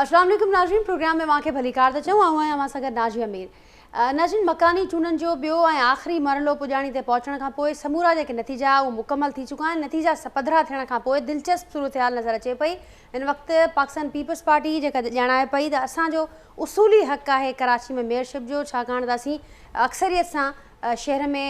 السلام عليڪم ناظرين پروگرام ۾ اوهان کي ڀليڪار ٿا چون آئون آهيان اوهان سان گڏ ناجيه مير ناظرين مڪاني چونڊن جو ٻيو ۽ آخري مرحلو پڄاڻي تي پهچڻ کان پوء سمورا جيڪي نتيجا اهو مڪمل ٿي چڪا آهن نتيجا پڌرا ٿيڻ کان پوء دلچسپ صورتحال نظر اچي پئي هن وقت پاڪستان پيپلز پارٽي جيڪا ڄاڻائي پئي ته اسان جو اصولي حق آهي ڪراچي ۾ ميئرشپ جو ڇاڪاڻ ته اسين اڪثريت سان شهر ۾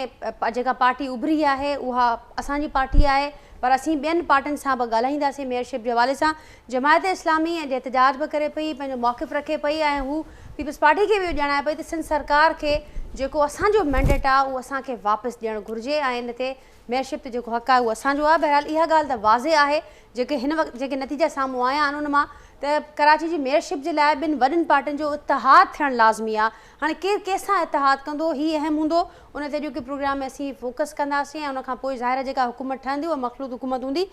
جيڪا پارٽي اڀري آهي اها اسان جي پارٽي آهي پر اسين ٻين پارٽين سان به ڳالهائينداسين ميئر شپ جي حوالي سان جماعت اسلامي ۽ احتجاج به ڪري پئي پنهنجو موقف رکي پئي ۽ هو پيپلز پارٽي کي به اهو ڄاڻائي پئي ته سنڌ سرڪار کي جيڪو اسان جو مينڊيٽ آهي اهو اسان کي واپس ڏيڻ گهرجي ۽ ان تي ميئر شپ تي جيڪو حق آهي اهو اسان جو آهي بهرحال اها ڳالهه ته واضح آهي جيڪي هن وقت جيڪي نتيجا سامهون آيا آهن ان مان ته ڪراچي جي ميئر شپ جي لاء ٻن وڏين پارٽين جو اتحاد ٿيڻ لازمي آهي هاڻي ڪير ڪنهن سان اتحاد ڪندو هي اهم هوندو ان تي اڄوڪي پروگرام ۾ اسين فوڪس ڪنداسين ۽ ان کان پوء ظاهر آهي جيڪا حڪومت ٺهندي اها مخلوط حڪومت هوندي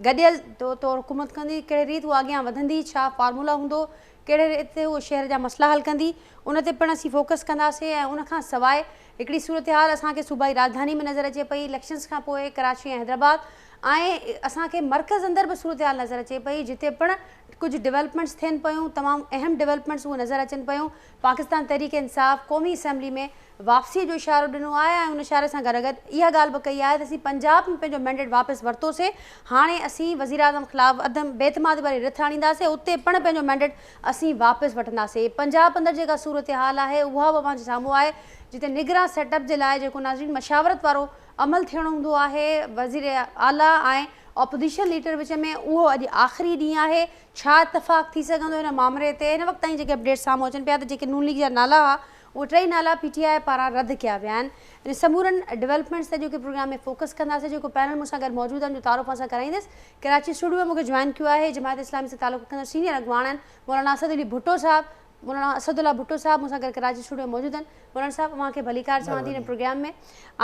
گڏيل طور حڪومت ڪندي ڪهڙي ريت اها اڳيان وڌندي ڇا فارمولا هوندو ڪهڙي ريت تي اهو شهر جا مسئلا حل ڪندي ان تي پڻ اسين فوڪس ڪنداسين ۽ ان کان سواء هڪڙي صورتحال اسان کي صوبائي راڄڌاني ۾ نظر اچي پئي اليڪشنز کان پوء ڪراچي ۽ حيدرآباد ۽ اسان کي مرڪز اندر به صورتحال نظر اچي پئي جتي پڻ ڪجهه ڊولپمينٽس ٿين پيون تمام اهم ڊولپمينٽس اهي نظر اچن پيون پاڪستان تحريڪ انصاف قومي اسيمبلي ۾ واپسي جو اشارو ڏنو آهي ۽ ان اشاري سان گڏوگڏ اها ڳالهه به ڪئي آهي ته اسين پنجاب ۾ پنهنجو مينڊيٽ واپس ورتوسين، هاڻي اسين وزيراعظم خلاف عدم بي اعتمادي واري رٿ آڻينداسين، اتي پڻ پنهنجو مينڊيٽ اسين واپس وٺنداسين. پنجاب اندر جيڪا صورتحال آهي اها به اوهان جي سامهون آهي جتي نگران سيٽ اپ جي لاء جيڪو ناظرين مشاورت وارو عمل ٿيڻو هوندو آهي وزيراعليٰ ۽ اپوزيشن ليڊر وچ ۾ اهو اڄ آخري ڏينهن آهي ڇا اتفاق ٿي سگهندو ان مامري تي هن وقت تائين جيڪي اپڊيٽس سامهون اچن پيا ته جيڪي نون ليگ جا نالا ها اهي ٽئي نالا پي ٽي آء پاران رد ڪيا ويا آهن ان سمورن ڊولپمينٽس تي اڄوڪي پروگرام ۾ فوڪس ڪنداسين جيڪو پينل مون سان گڏ موجود آهن جو تعارف اوهان سان ڪرائيندس ڪراچي اسٽوڊيو ۾ مون کي جوائن ڪيو آهي جماعت اسلامي سان تعلق رکندڙ سينيئر اڳواڻ آهن مولانا اسد علي ڀٽو صاحب مولانا اسد الله ڀٽو صاحب مون سان گڏ ڪراچي اسٽوڊيو ۾ موجود آهن مولانا صاحب اوهان کي ڀليڪار چوان ٿي ان پروگرام ۾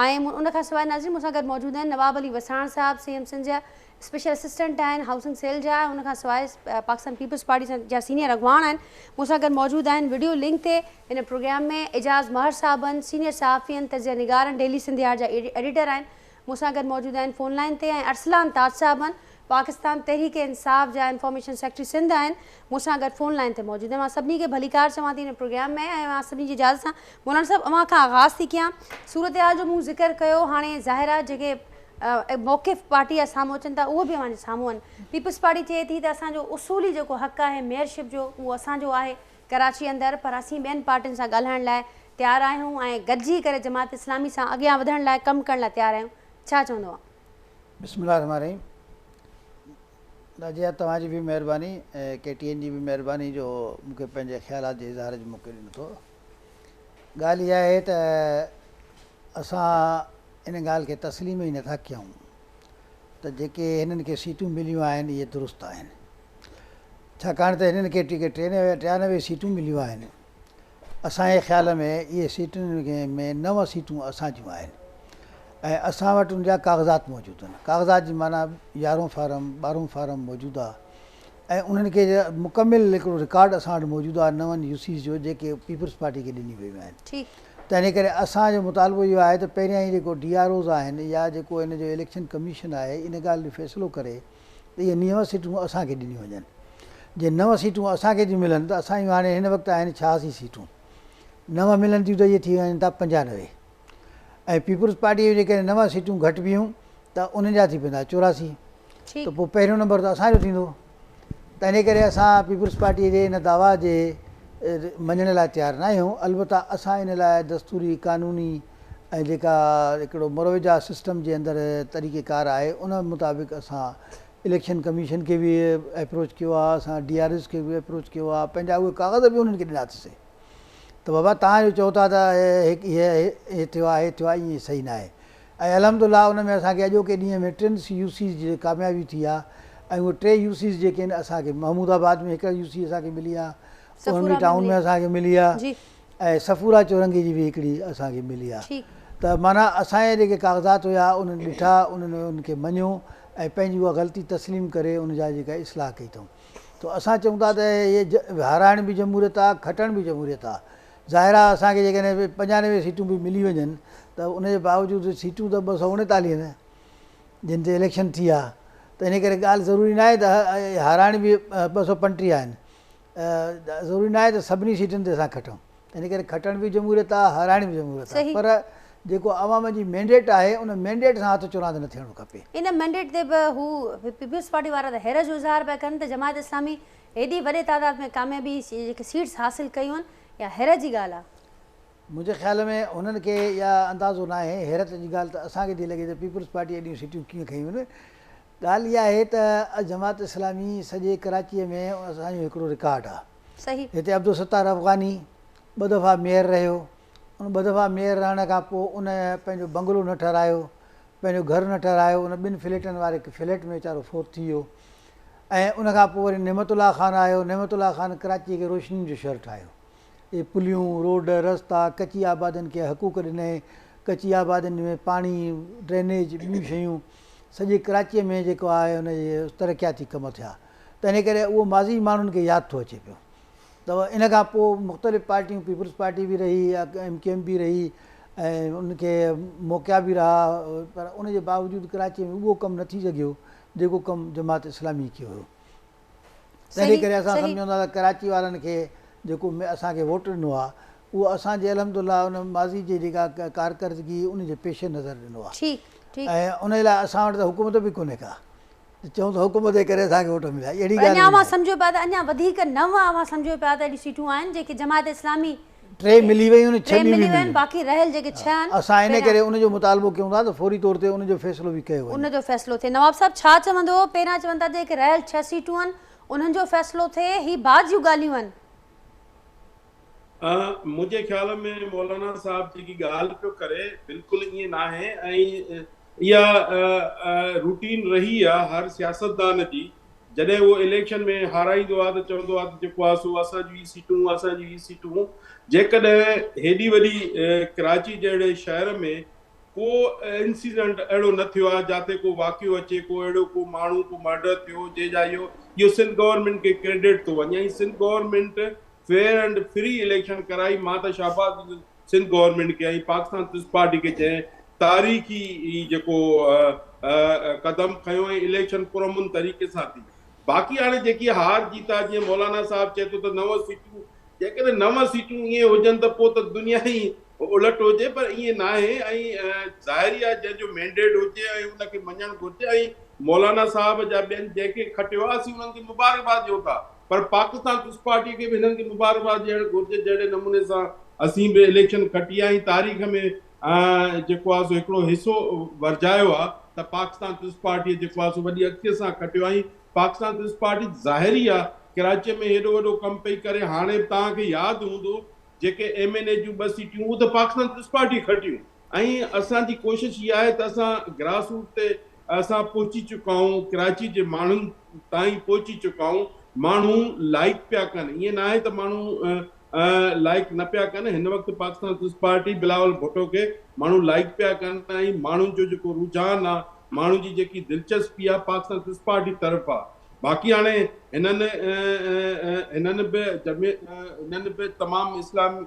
۽ ان کان سواء ناظرين مون سان گڏ موجود آهن نواب علي وساڻ صاحب سي ايم سنڌ جا اسپيشل اسسٽنٽ آهن هائوسنگ سيل جا ان کان سواء پاڪستان پيپلز پارٽي جا سينيئر اڳواڻ آهن مون سان گڏ موجود آهن وڊيو لنڪ تي هن پروگرام ۾ اعجاز ماهر صاحب آهن سينيئر صحافين تجزيه نگار آهن ڊيلي سنڌ يارڊ جا ايڊيٽر آهن مون سان گڏ موجود آهن فون لائين تي ۽ ارسلان تاج صاحب آهن پاڪستان تحريڪ انصاف جا انفارميشن سيڪريٽري سنڌ آهن مون سان گڏ فون لائين تي موجود آهن مان سڀني کي ڀليڪار چوان ٿي هن پروگرام ۾ ۽ مان سڀني جي اجازت سان مولانا صاحب اوهان کان آغاز ٿي ڪيان صورتحال جو مون ذڪر ڪيو هاڻي ظاهر آهي جيڪي موقف پارٽي جا سامهون اچن ٿا اهو به اوهان جي سامهون آهن پيپلز پارٽي چئي ٿي ته اسان جو اصولي جيڪو حق آهي ميئر شپ جو اهو اسان جو آهي ڪراچي اندر پر اسين ٻين پارٽين سان ڳالهائڻ لاء تيار آهيون ۽ گڏجي ڪري جماعت اسلامي سان اڳيان وڌڻ لاء ڪم ڪرڻ لاء تيار آهيون ڇا چوندو آهان؟ بسم الله الرحمٰن الرحيم نازيه توهان جي به مهرباني ۽ ڪي ٽي اين جي به مهرباني جو مون کي پنهنجي خيالات جي اظهار جو موقعو ڏنو اٿو ڳالهه اها آهي ته اسان ان ڳالهه کي تسليم ئي نٿا ڪيون ته جيڪي هنن کي سيٽون مليون آهن اهي درست آهن ڇاڪاڻ ته هنن کي ٽڪيٽ ٽيانوي سيٽون مليون آهن اسان جي خيال ۾ اهي سيٽن ۾ نو سيٽون اسان جون آهن ۽ اسان وٽ ان جا ڪاغذات موجود آهن ڪاغذات جي معنيٰ يارهون فارم ٻارهون فارم موجوده ۽ انهن کي مڪمل هڪڙو رڪارڊ اسان وٽ موجود آهي نون يو سيز جو جيڪي پيپلز پارٽي کي ڏنيون ويون آهن تنهن ڪري اسان جو مطالبو اهو آهي ته پهريان هي جيڪو ڊي آر اوز آهن يا جيڪو هن جو اليڪشن ڪميشن آهي ان ڳالهه جو فيصلو ڪري ته اهي نيون سيٽون اسان کي ڏنيون وڃن جي نون سيٽون اسان کي ٿيون ملن ته اسان جون هاڻي هن وقت آهن ڇهاسي سيٽون نون ملن ٿيون ته اهي ٿي وڃن ٿا پنجانوي ۽ پيپلز پارٽيء جون جيڪڏهن نو سيٽون گهٽ بيهون ته انهن جا ٿي پوندا چوراسي ته پوء پهريون نمبر ته اسان جو ٿيندو تنهنجي ڪري اسان پيپلز پارٽيء جي ان دعويٰ جي مڃڻ لاء تيار نه آهيون البته اسان ان لاء دستوري قانوني ۽ جيڪا هڪڙو مروجه سسٽم جي اندر طريقه ڪار آهي ان مطابق اسان اليڪشن ڪميشن کي به ايپروچ ڪيو آهي اسان ڊي آر ايز کي به ايپروچ ڪيو آهي پنهنجا اهي ڪاغذ به انهن کي ڏنا ٿيسين ته بابا توهان جو چئو ٿا ته هي ٿيو آهي هي ٿيو آهي ائين صحيح ناهي ۽ الحمد الله ان ۾ اسان کي اڄوڪي ڏينهن ۾ ٽن يو سيز جي ڪاميابي ٿي آهي ۽ اهي ٽي يو سيز جيڪي آهن اسان کي محمود آباد ۾ هڪڙي يو سي اسان کي ملي آهي اوهانگي ٽائون ۾ اسان کي ملي آهي ۽ صفورا چورنگي جي به هڪڙي اسان کي ملي آهي ته معنيٰ اسان جا جيڪي ڪاغذات هيا انهن ڏٺا انهن ان کي مڃيو ۽ پنهنجي اها غلطي تسليم ڪري ان جا جيڪا اصلاح ڪئي اٿئون تو اسان چئون ٿا ته اهي هارائڻ به جمهوريت آ کٽڻ به جمهوريت آ ظاهر آ اسان کي جيڪڏهن پنجانوي سيٽون به ملي وڃن ته ان جي باوجود سيٽون ته ٻه سؤ اڻيتاليهه نه جن تي اليڪشن ٿي آ ته ان ڪري ڳالهه ضروري ناهي ته هارائڻ به ٻه سؤ پنٽيهه آهن ضروري ناهي ته سڀني سيٽن تي اسان کٽون ان ڪري کٽڻ به جمهوريت آ هارائڻ به جمهوريت آ پر جيڪو عوام جي مينڊيٽ آهي ان مينڊيٽ سان هٿ چراند نه ٿيڻو کپي. ان مينڊيٽ تي به هو پيپلز پارٽي وارا ته حيرت جو اظهار پيا ڪن ته جماعت اسلامي هيڏي وڏي تعداد ۾ ڪاميابي جيڪي سيٽس حاصل ڪيون آهن اها حيرت جي ڳالهه آ. منهنجي خيال ۾ هنن کي اها اندازو ناهي حيرت جي ڳالهه ته اسان کي ٿي لڳي ته پيپلز پارٽي ايڏيون سيٽيون ڪيئن کنيون آهن ڳالهه اها آهي ته جماعت اسلامي سڄي ڪراچيء ۾ اسان جو هڪڙو رڪارڊ آ. صحيح. هتي عبدالستار افغاني ٻه دفعا ميئر رهيو، ان ٻه دفعا ميئر رهڻ کان پوء ان پنهنجو بنگلو نه ٺهرايو، پنهنجو گهر نه ٺهرايو، ان ٻن فليٽن واري هڪ فليٽ ۾ ويچارو فوت ٿي ويو ۽ ان کان پوء وري نعمت الله خان آيو، نعمت الله خان ڪراچيء کي روشنين جو شهر ٺاهيو، اهي پليون، روڊ، رستا، ڪچي آبادين کي حقوق ڏنائين، ڪچي آبادين ۾ پاڻي، ڊرينيج، ٻيون شيون. سڄي ڪراچيء ۾ جيڪو آهي ان جي ترقياتي ڪم ٿيا ته ان ڪري اهو ماضي ماڻهن کي ياد ٿو اچي پيو ته ان کان پوء مختلف پارٽيون پيپلز پارٽي به رهي يا ايم ڪيو ايم به رهي ۽ ان کي موقعا به رها پر ان جي باوجود ڪراچيء ۾ اهو ڪم نه ٿي سگهيو جيڪو ڪم جماعت اسلامي ڪيو هيو. تنهنجي ڪري اسان سمجهون ٿا ته ڪراچي وارن کي جيڪو اسان کي ووٽ ڏنو آهي اهو اسان جي الحمد لله ان ماضي جي جيڪا ڪارڪردگي ان جي پيش نظر ڏنو آهي ۽ ان لاء اسان وٽ ته حڪومت به ڪونهي ڪا ته چئون ته حڪومت جي ڪري اسان کي ووٽ مليا اهڙي ڳالهه اڃا اوهان سمجهو پيا ته اڃا وڌيڪ نه اوهان سمجهو پيا ته اهڙيون سيٽون آهن جيڪي جماعت اسلامي ٽي ملي ويون ۽ ڇهه ٻيون به ملي ويون باقي رهيل جيڪي ڇهه آهن اسان ان ڪري ان جو مطالبو ڪيون ٿا ته فوري طور تي ان جو فيصلو به ڪيو وڃي. ان جو فيصلو ٿئي. نواب صاحب ڇا چوندو پهريان چون ٿا ته جيڪي رهيل ڇهه سيٽون آهن انهن جو فيصلو ٿئي هي بعد جون ڳالهيون آهن. منهنجي خيال ۾ مولانا صاحب جيڪي ڳالهه پيو ڪري بلڪل ائين ناهي ۽ اها روٽين رهي آهي هر سياستدان جي جڏهن اهو اليڪشن ۾ هارائيندو آ ته چوندو آ ته جيڪو آ سو اسان جون ئي سيٽون اسان جون ئي سيٽون جيڪڏهن هيڏي وڏي ڪراچي جهڙي شهر ۾ ڪو انسيڊنٽ اهڙو نه ٿيو آ جاتي ڪو واقعو اچي ڪو اهڙو ڪو ماڻهو ڪو مرڊر ٿيو جنهن جا اهو اهو سنڌ گورنمينٽ کي ڪريڊٽ ٿو وڃي ۽ Sindh government fair and free election ڪرائي مان ته شهباز سنڌ گورنمينٽ کي ۽ پاڪستان پيپلز پارٽي کي جنهن تاريخي هي جيڪو قدم کنيو ۽ اليڪشن پرامن طريقي سان ٿي باقي هاڻي جيڪي هار جيت آهي جيئن مولانا صاحب چئي ٿو ته نو سيٽون جيڪڏهن نو سيٽون ائين هجن ته پوء ته دنيا ئي الٽ هجي پر ائين ناهي ۽ ظاهري آهي جنهن جو مينڊيٽ هجي ۽ ان کي مڃڻ گهرجي ۽ مولانا صاحب جا ٻين جنهن کي کٽيو آهي اسين انهن کي مبارڪباد ڏيون ٿا پر پاڪستان پيپلز پارٽي کي به هنن کي مبارڪباد ڏيڻ گهرجي جهڙي نموني سان اسين به اليڪشن کٽي ۽ تاريخ ۾ جيڪو آهي سو هڪڙو حصو ورجايو آهي ته پاڪستان پيپلز پارٽي جيڪو آهي سو وڏي اڳتي سان کٽيو ۽ پاڪستان پيپلز پارٽي ظاهري آهي ڪراچي ۾ هيڏو وڏو ڪم پئي ڪري هاڻي به توهان کي ياد هوندو جيڪي ايم اين اي جون ٻه سيٽيون هو ته پاڪستان پيپلز پارٽي کٽيون. ۽ اسان جي ڪوشش اها آهي ته اسان گراس روٽ تي اسان پهچي چڪا آهيون، ڪراچي جي ماڻهن تائين پهچي چڪا آهيون، ماڻهو لائڪ پيا ڪن، ائين نه آهي ته ماڻهو لائڪ نه پيا ڪن، هن وقت پاڪستان پيپلز پارٽي بلاول ڀٽو کي ماڻهو لائڪ پيا ڪن ۽ ماڻهن جو جيڪو رجحان آهي، ماڻهن جي جيڪي دلچسپي آهي پاڪستان پيپلز پارٽي طرف آهي، باقي هاڻي هنن هنن به هنن به تمام اسلام.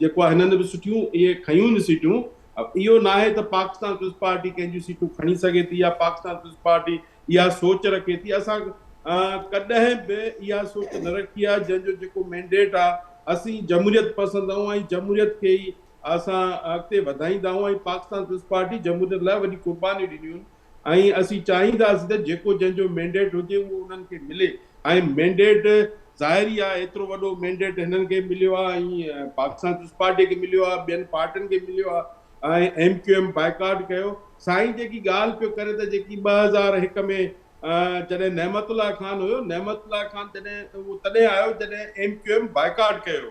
جيڪو آهي هنن به سٺيون اهي کنيون نه سيٽون اهو ناهي ته پاڪستان پيپلز پارٽي ڪنهن جون سيٽون کڻي سگهي ٿي يا پاڪستان پيپلز پارٽي اها سوچ رکي ٿي اسان ڪڏهن به اها سوچ نه رکي آهي جنهن جو جيڪو مينڊيٽ آهي اسين جمهوريت پسند آهيون ۽ جمهوريت کي ئي اسان اڳتي وڌائيندا آهيون ۽ پاڪستان پيپلز پارٽي جمهوريت لاء وڏي قربانيون ڏنيون آهن ۽ اسين چاهينداسين ته جيڪو جنهن جو مينڊيٽ هجي اهو انهن کي ملي ۽ مينڊيٽ ظاهر ئي آهي ايترو وڏو مينڊيٽ هنن کي مليو آهي ۽ پاڪستان پيپلز پارٽي کي مليو آهي ٻين پارٽين کي مليو آهي ۽ ايم ڪيو ايم بائيڪاٽ ڪيو سائين جيڪي ڳالهه پيو ڪري ته جيڪي ٻه هزار هڪ ۾ جڏهن نعمت الله خان هيو نعمت الله خان جڏهن اهو تڏهن آيو جڏهن ايم ڪيو ايم بائيڪاٽ ڪيو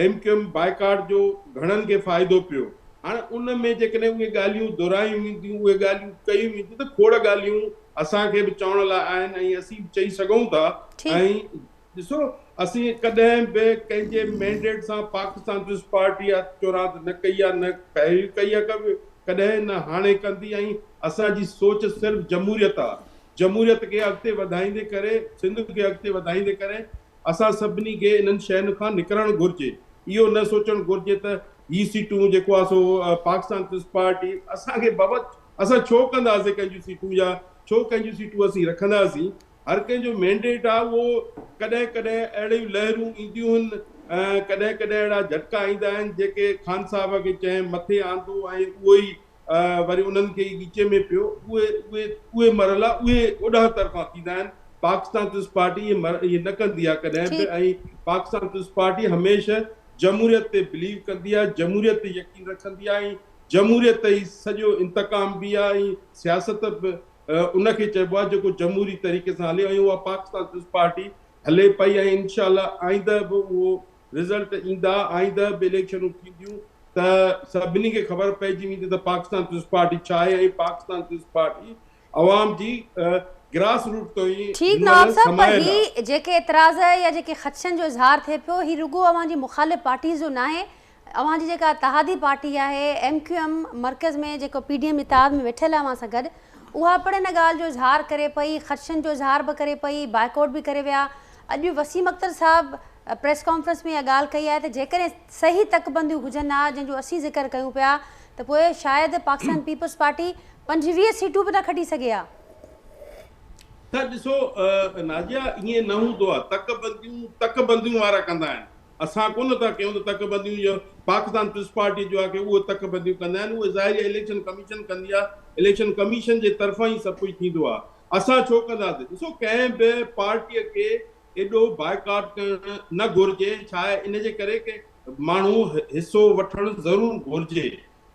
ايم ڪيو ايم بائيڪاٽ جو گهڻن کي فائدو پيو. هاڻ ان ۾ جيڪڏهن اهي ڳالهيون دهرايون وينديون، اهي ڳالهيون ڪيون وينديون ته کوڙ ڳالهيون اسان کي به چوڻ لاء آهن ۽ اسين به چئي سگهون ٿا ۽ ڏسو اسين ڪڏهن به ڪنهن جي مينڊيٽ سان پاڪستان پيپلز پارٽي اها چوراند نه ڪئي آهي نه پهرين ڪئي آهي ڪبه ڪڏهن نه هاڻي ڪندي ۽ اسان جي سوچ صرف جمهوريت آهي جمهوريت کي اڳتي وڌائيندي ڪري سنڌ کي اڳتي وڌائيندي ڪري اسان سڀني کي انهن شين کان نڪرڻ گهرجي، اهو نه سوچڻ گهرجي ته هي سيٽون جيڪو آهي سو پاڪستان پيپلز پارٽي اسان کي بابا اسان ڇو ڪنداسين ڪنهن جون سيٽون يا ڇو ڪنهن جون سيٽون اسين رکنداسين، هر ڪنهن جو مينڊيٽ آهي اهو ڪڏهن ڪڏهن اهڙيون لهرون اينديون هن ۽ ڪڏهن ڪڏهن اهڙا جهٽڪا ايندا آهن جيڪي خان صاحب کي چينهن مٿي آندو ۽ اهو ئي وري انهن کي ئي ڳچي ۾ پيو اهي اهي اهي مرحلا اهي اوڏانهن طرفان ٿيندا آهن پاڪستان پيپلز پارٽي اهي مر اهي نه ڪندي آهي ڪڏهن به ٺيڪ. ۽ پاڪستان پيپلز پارٽي هميشه جمهوريت تي بليو ڪندي آهي جمهوريت تي يقين رکندي آهي ۽ جمهوريت ئي سڄو انتقام به آهي ۽ سياست به ان کي چئبو آهي جيڪو جمهوري طريقي سان هلي ۽ اها پاڪستان پيپلز پارٽي هلي پئي ۽ انشاء الله آئنده به اهو رزلٽ ايندا، آئنده به اليڪشنون ٿينديون ته سڀني کي خبر پئجي ويندي ته پاڪستان پيپلز پارٽي ڇا آهي ۽ پاڪستان پيپلز پارٽي عوام جي گراس روٽ تائين هن مهل سمايل آهي. ٺيڪ نواب صاحب پر هي جيڪي اعتراض يا جيڪي خدشن جو اظهار ٿئي پيو هي رڳو اوهان جي مخالف پارٽيز جو ناهي، اوهان جي جيڪا اتحادي پارٽي آهي ايم ڪيو ايم مرڪز ۾ جيڪو پي ڊي ايم اتحاد ۾ ويٺل آهي اوهان سان گڏ اها پڻ ان ڳالهه جو اظهار ڪري پئي، خدشن جو اظهار به ڪري پئي، بائيڪاٽ به ڪري ويا، اڄ وسيم اختر صاحب پريس ڪانفرنس ۾ اها ڳالهه ڪئي آهي ته جيڪڏهن صحيح تڪبنديون هجن ها جن جو اسين ذڪر ڪيون پيا ته پوء شايد پاڪستان پيپلز پارٽي پنجويهه سيٽون به نه کٽي سگهي ها. ته ڏسو نازيا ائين نه هوندو آهي تڪبنديون تڪبنديون وارا ڪندا آهن اسان ڪونه ٿا ڪيون ته تڪبنديون جو پاڪستان پيپلز پارٽي جو آهي ڪي اهي تڪبنديون ڪندا آهن اهي ظاهري اليڪشن ڪميشن ڪندي آهي اليڪشن ڪميشن جي طرفان ئي سڀ ڪجهه ٿيندو آهي اسان ڇو ڪنداسين ڏسو ڪنهن به پارٽي کي ايڏو بائيڪاٽ ڪرڻ نه گهرجي ڇا آهي ان جي ڪري ڪي ماڻهو حصو وٺڻ ضرور گهرجي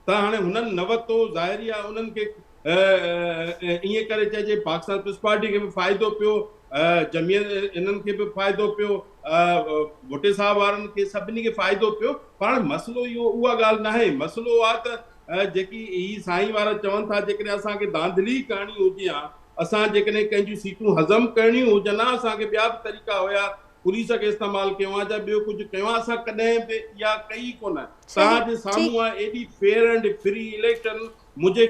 ته هاڻي هنن نه وتو ظاهري آهي انهن کي ائين ڪري چئجي پاڪستان پيپلز پارٽي کي به فائدو پيو جميل انهن کي به فائدو پيو ڀٽي صاحب وارن کي سڀني کي فائدو پيو پر هاڻي مسئلو اهو اها ڳالهه ناهي مسئلو آهي ته ۽ جيڪي هي سائين وارا چون ٿا جيڪڏهن اسان کي ڌانڌلي ڪرڻي هجي ها اسان جيڪڏهن ڪنهن جون سيٽون هضم ڪرڻيون هجن ها اسان کي ٻيا به طريقا هيا پوليس کي استعمال ڪيون ها جا ٻيو ڪجهه ڪيون ها اسان ڪڏهن به اها ڪئي ئي ڪونه توهان جي سامهون آهي ايڏي فيئر اينڊ فري اليڪشن منهنجي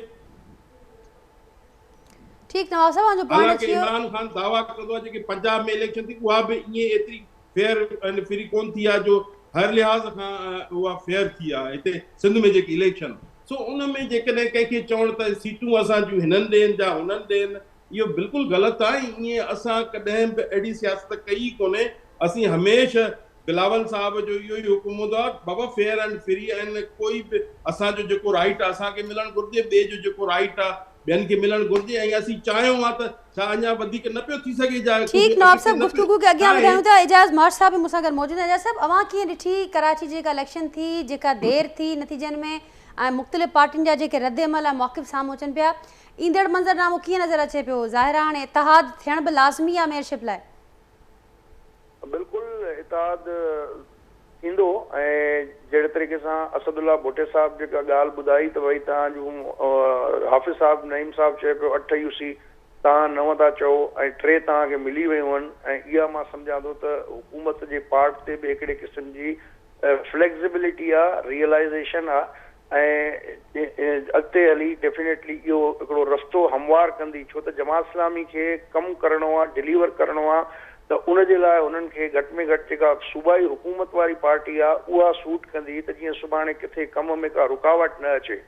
ٺيڪ نواب صاحب اوهان جو پوائنٽ اچي ويو حالانڪه عمران خان دعويٰ ڪندو آهي جيڪي پنجاب ۾ اليڪشن ٿي اها به ائين ايتري فيئر اينڊ فري ڪونه ٿي آ جو هر لحاظ کان اها فيئر ٿي آ هتي سنڌ ۾ جيڪي اليڪشن سو ان ۾ جيڪڏهن ڪنهن کي چوڻ ته سيٽون اسان جون هنن ڏين جا هنن ڏين اهو بلڪل غلط آ ۽ ائين اسان ڪڏهن به اهڙي سياست ڪئي ئي ڪونهي اسين هميشه بلاول صاحب جو اهو ئي حڪم هوندو آ بابا فيئر اينڊ فري ۽ ڪوئي به اسان جو جيڪو رائيٽ آ اسان کي ملڻ گهرجي ٻئي جو جيڪو رائيٽ آ ٻين کي ملڻ گهرجي ۽ اسين چاهيون ها ته ڇا اڃا وڌيڪ نه پيو ٿي سگهي جا ٺيڪ نواب صاحب گفتگو کي اڳيان وڌايون ٿا اعجاز ماش صاحب به مون سان گڏ موجود آهن اعجاز صاحب اوهان ڪيئن ڏٺي ڪراچي جي جيڪا اليڪشن ٿي جيڪا دير ٿي نتيجن ۾ ۽ مختلف پارٽين جا جيڪي رد عمل ۽ مواقف سامهون اچن پيا ايندڙ منظر نامو ڪيئن نظر اچي پيو ظاهر آهي هاڻي اتحاد ٿيڻ به لازمي آهي ميئرشپ لاء بلڪل اتحاد ٿيندو ۽ جهڙي طريقي سان اسد الله ڀٽي صاحب جيڪا ڳالهه ٻڌائي ته ڀئي توهان جون حافظ صاحب نعيم صاحب چئي پيو اٺ يو سي توهان نو ٿا چئو ۽ ٽي توهان کي ملي ويون هن ۽ اها مان سمجهان ٿو ته حڪومت جي پارٽ تي به هڪڙي قسم جي فليڪزبلٽي آ ريئلائزيشن آ ۽ اڳتي هلي ڊيفينيٽلي اهو هڪڙو رستو هموار ڪندي ڇو ته جماعت اسلامي کي ڪم ڪرڻو آهي ڊليور ڪرڻو آهي ته ان جي لاء هنن کي گهٽ ۾ گهٽ جيڪا صوبائي حڪومت واري پارٽي آهي اها سوٽ ڪندي ته جيئن سڀاڻي ڪٿي ڪم ۾ ڪا رڪاوٽ نه اچي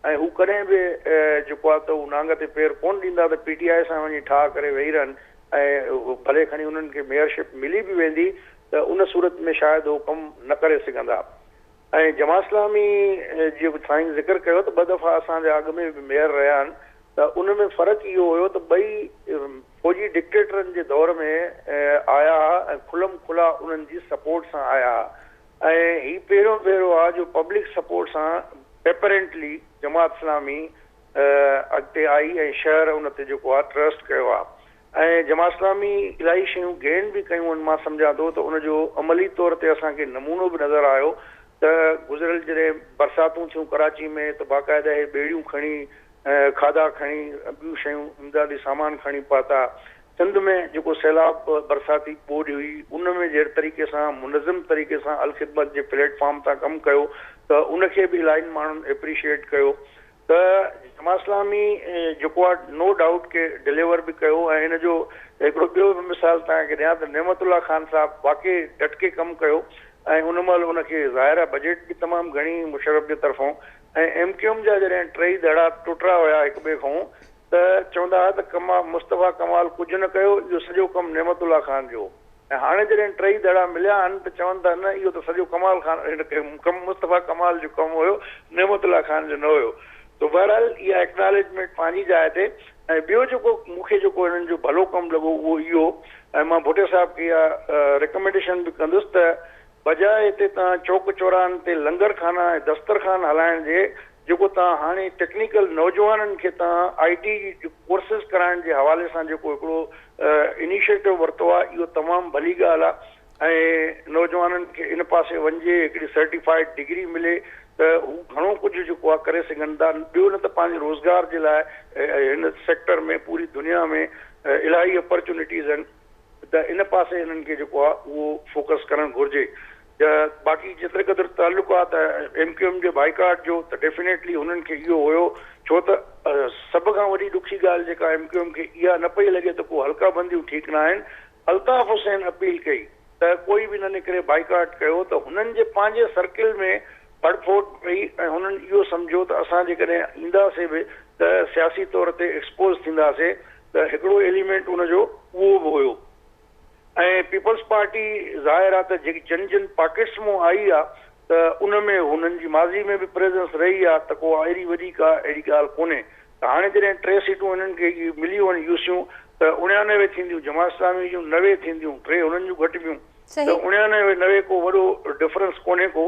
۽ هو ڪڏهن به جيڪو آهي ته هو نانگ تي پير ڪونه ڏيندا ته پي ٽي آء سان وڃي ٺاهه ڪري ويهي رهن ۽ ڀلي کڻي هنن کي ميئرشپ ملي به ويندي ته ان صورت ۾ شايد هو ڪم نه ڪري سگهندا ۽ جماعت اسلامي جي به سائين ذڪر ڪيو ته ٻه دفعا اسان جا اڳ ۾ به ميئر رهيا آهن ته ان ۾ فرق اهو هيو ته ٻئي فوجي ڊڪٽيٽرن جي دور ۾ آيا ها ۽ کلم کلا انهن جي سپورٽ سان آيا ها ۽ هي پهريون ڀيرو آ جو پبلڪ سپورٽ سان ايپرينٽلي جماعت اسلامي اڳتي آئي ۽ شهر ان تي جيڪو آ ٽرسٽ ڪيو آ ۽ جمعاسلامي الاهي شيون گين به ڪيون ان مان سمجهان ٿو ته ان جو عملي طور تي اسان کي نمونو به نظر آيو ته گذريل جڏهن برساتون ٿيون ڪراچي ۾ ته باقاعده هي ٻيڙيون کڻي کاڌا کڻي ٻيون شيون امدادي سامان کڻي پهتا سنڌ ۾ جيڪو سيلاب برساتي ٻوڏ هئي ان ۾ جهڙي طريقي سان منظم طريقي سان الخدمت جي پليٽ فارم تان ڪم ڪيو ته ان کي به الاهين ماڻهن اپريشيئيٽ ڪيو ته جماعت اسلامي جيڪو آ نو ڊائوٽ ڪي ڊليور به ڪيو ۽ هن جو هڪڙو ٻيو به مثال توهان کي ڏيان ته نعمت الله خان صاحب واقعي ڊٽ ڪي ڪم ڪيو ۽ ان مهل ان کي ظاهر آ بجيٽ به تمام گهڻي مشرف جي طرفون ۽ ايم ڪيو ايم جا جڏهن ٽيئي ڌڙا ٽٽرا هيا هڪ ٻئي کون ته چوندا ها ته ڪما مصطفيٰ ڪمال ڪجهه نه ڪيو اهو سڄو ڪم نعمت الله خان جو هو. ۽ هاڻي جڏهن ٽئي دڙا مليا آهن ته چون ٿا نه اهو ته سڄو ڪمال خان هن مصطفيٰ ڪمال جو ڪم هيو نعمت الله خان جو نه هيو سو بهرحال اها اڪنالجمينٽ پنهنجي جاء تي ۽ ٻيو جيڪو مون کي جيڪو هنن جو ڀلو ڪم لڳو اهو اهو ۽ مان ڀٽي صاحب کي اها رڪمينڊيشن به ڪندس ته بجاء اتي توهان چوڪ چوراهن تي لنگر خانا ۽ دسترخوان هلائڻ جي جيڪو توهان هاڻي ٽيڪنيڪل نوجوانن کي توهان آئي ٽي جي ڪورسز ڪرائڻ جي حوالي سان جيڪو هڪڙو انيشيٽو ورتو آهي اهو تمام ڀلي ڳالهه آهي ۽ نوجوانن کي ان پاسي وڃجي هڪڙي سرٽيفائيڊ ڊگري ملي ته هو گهڻو ڪجهه جيڪو آهي ڪري سگهن ٿا ٻيو نه ته پنهنجي روزگار جي لاء هن سيڪٽر ۾ پوري دنيا ۾ الاهي اپرچونٽيز آهن. ته ان پاسي انهن کي جيڪو آهي اهو فوڪس ڪرڻ گهرجي ته باقي جيتري قدر تعلق آهي ته ايم ڪيو ايم جي بائيڪاٽ جو ته ڊيفينيٽلي هنن کي اهو هيو ڇو ته سڀ کان وڏي ڏکي ڳالهه جيڪا ايم ڪيو ايم کي اها نه پئي لڳي ته ڪو حلقا بنديون ٺيڪ نه آهن الطاف حسين اپيل ڪئي ته ڪوئي به نه نڪري بائيڪاٽ ڪيو ته هنن جي پنهنجي سرڪل ۾ ڦڙ ڦوٽ پئي ۽ هنن اهو سمجهيو ته اسان جيڪڏهن اينداسي به ته سياسي طور تي ايڪسپوز ٿينداسي ته هڪڙو ايليمينٽ ان جو اهو به هيو ۽ پيپلز پارٽي ظاهر آ ته جيڪي جن جن پاڪيٽس مون آئي آ ته ان ۾ هنن جي ماضي ۾ به پريزنس رهي آ ته ڪو ايڏي وڏي ڪا اهڙي ڳالهه ڪونهي ته هاڻي جڏهن ٽي سيٽون هنن کي مليون يوسيون ته اڻيانوي ٿينديون جماعت اسلامي جون نوي ٿينديون ٽي هنن جون گهٽبيون ته صحيح. اڻيانوي نوي ڪو وڏو ڊفرنس ڪونهي ڪو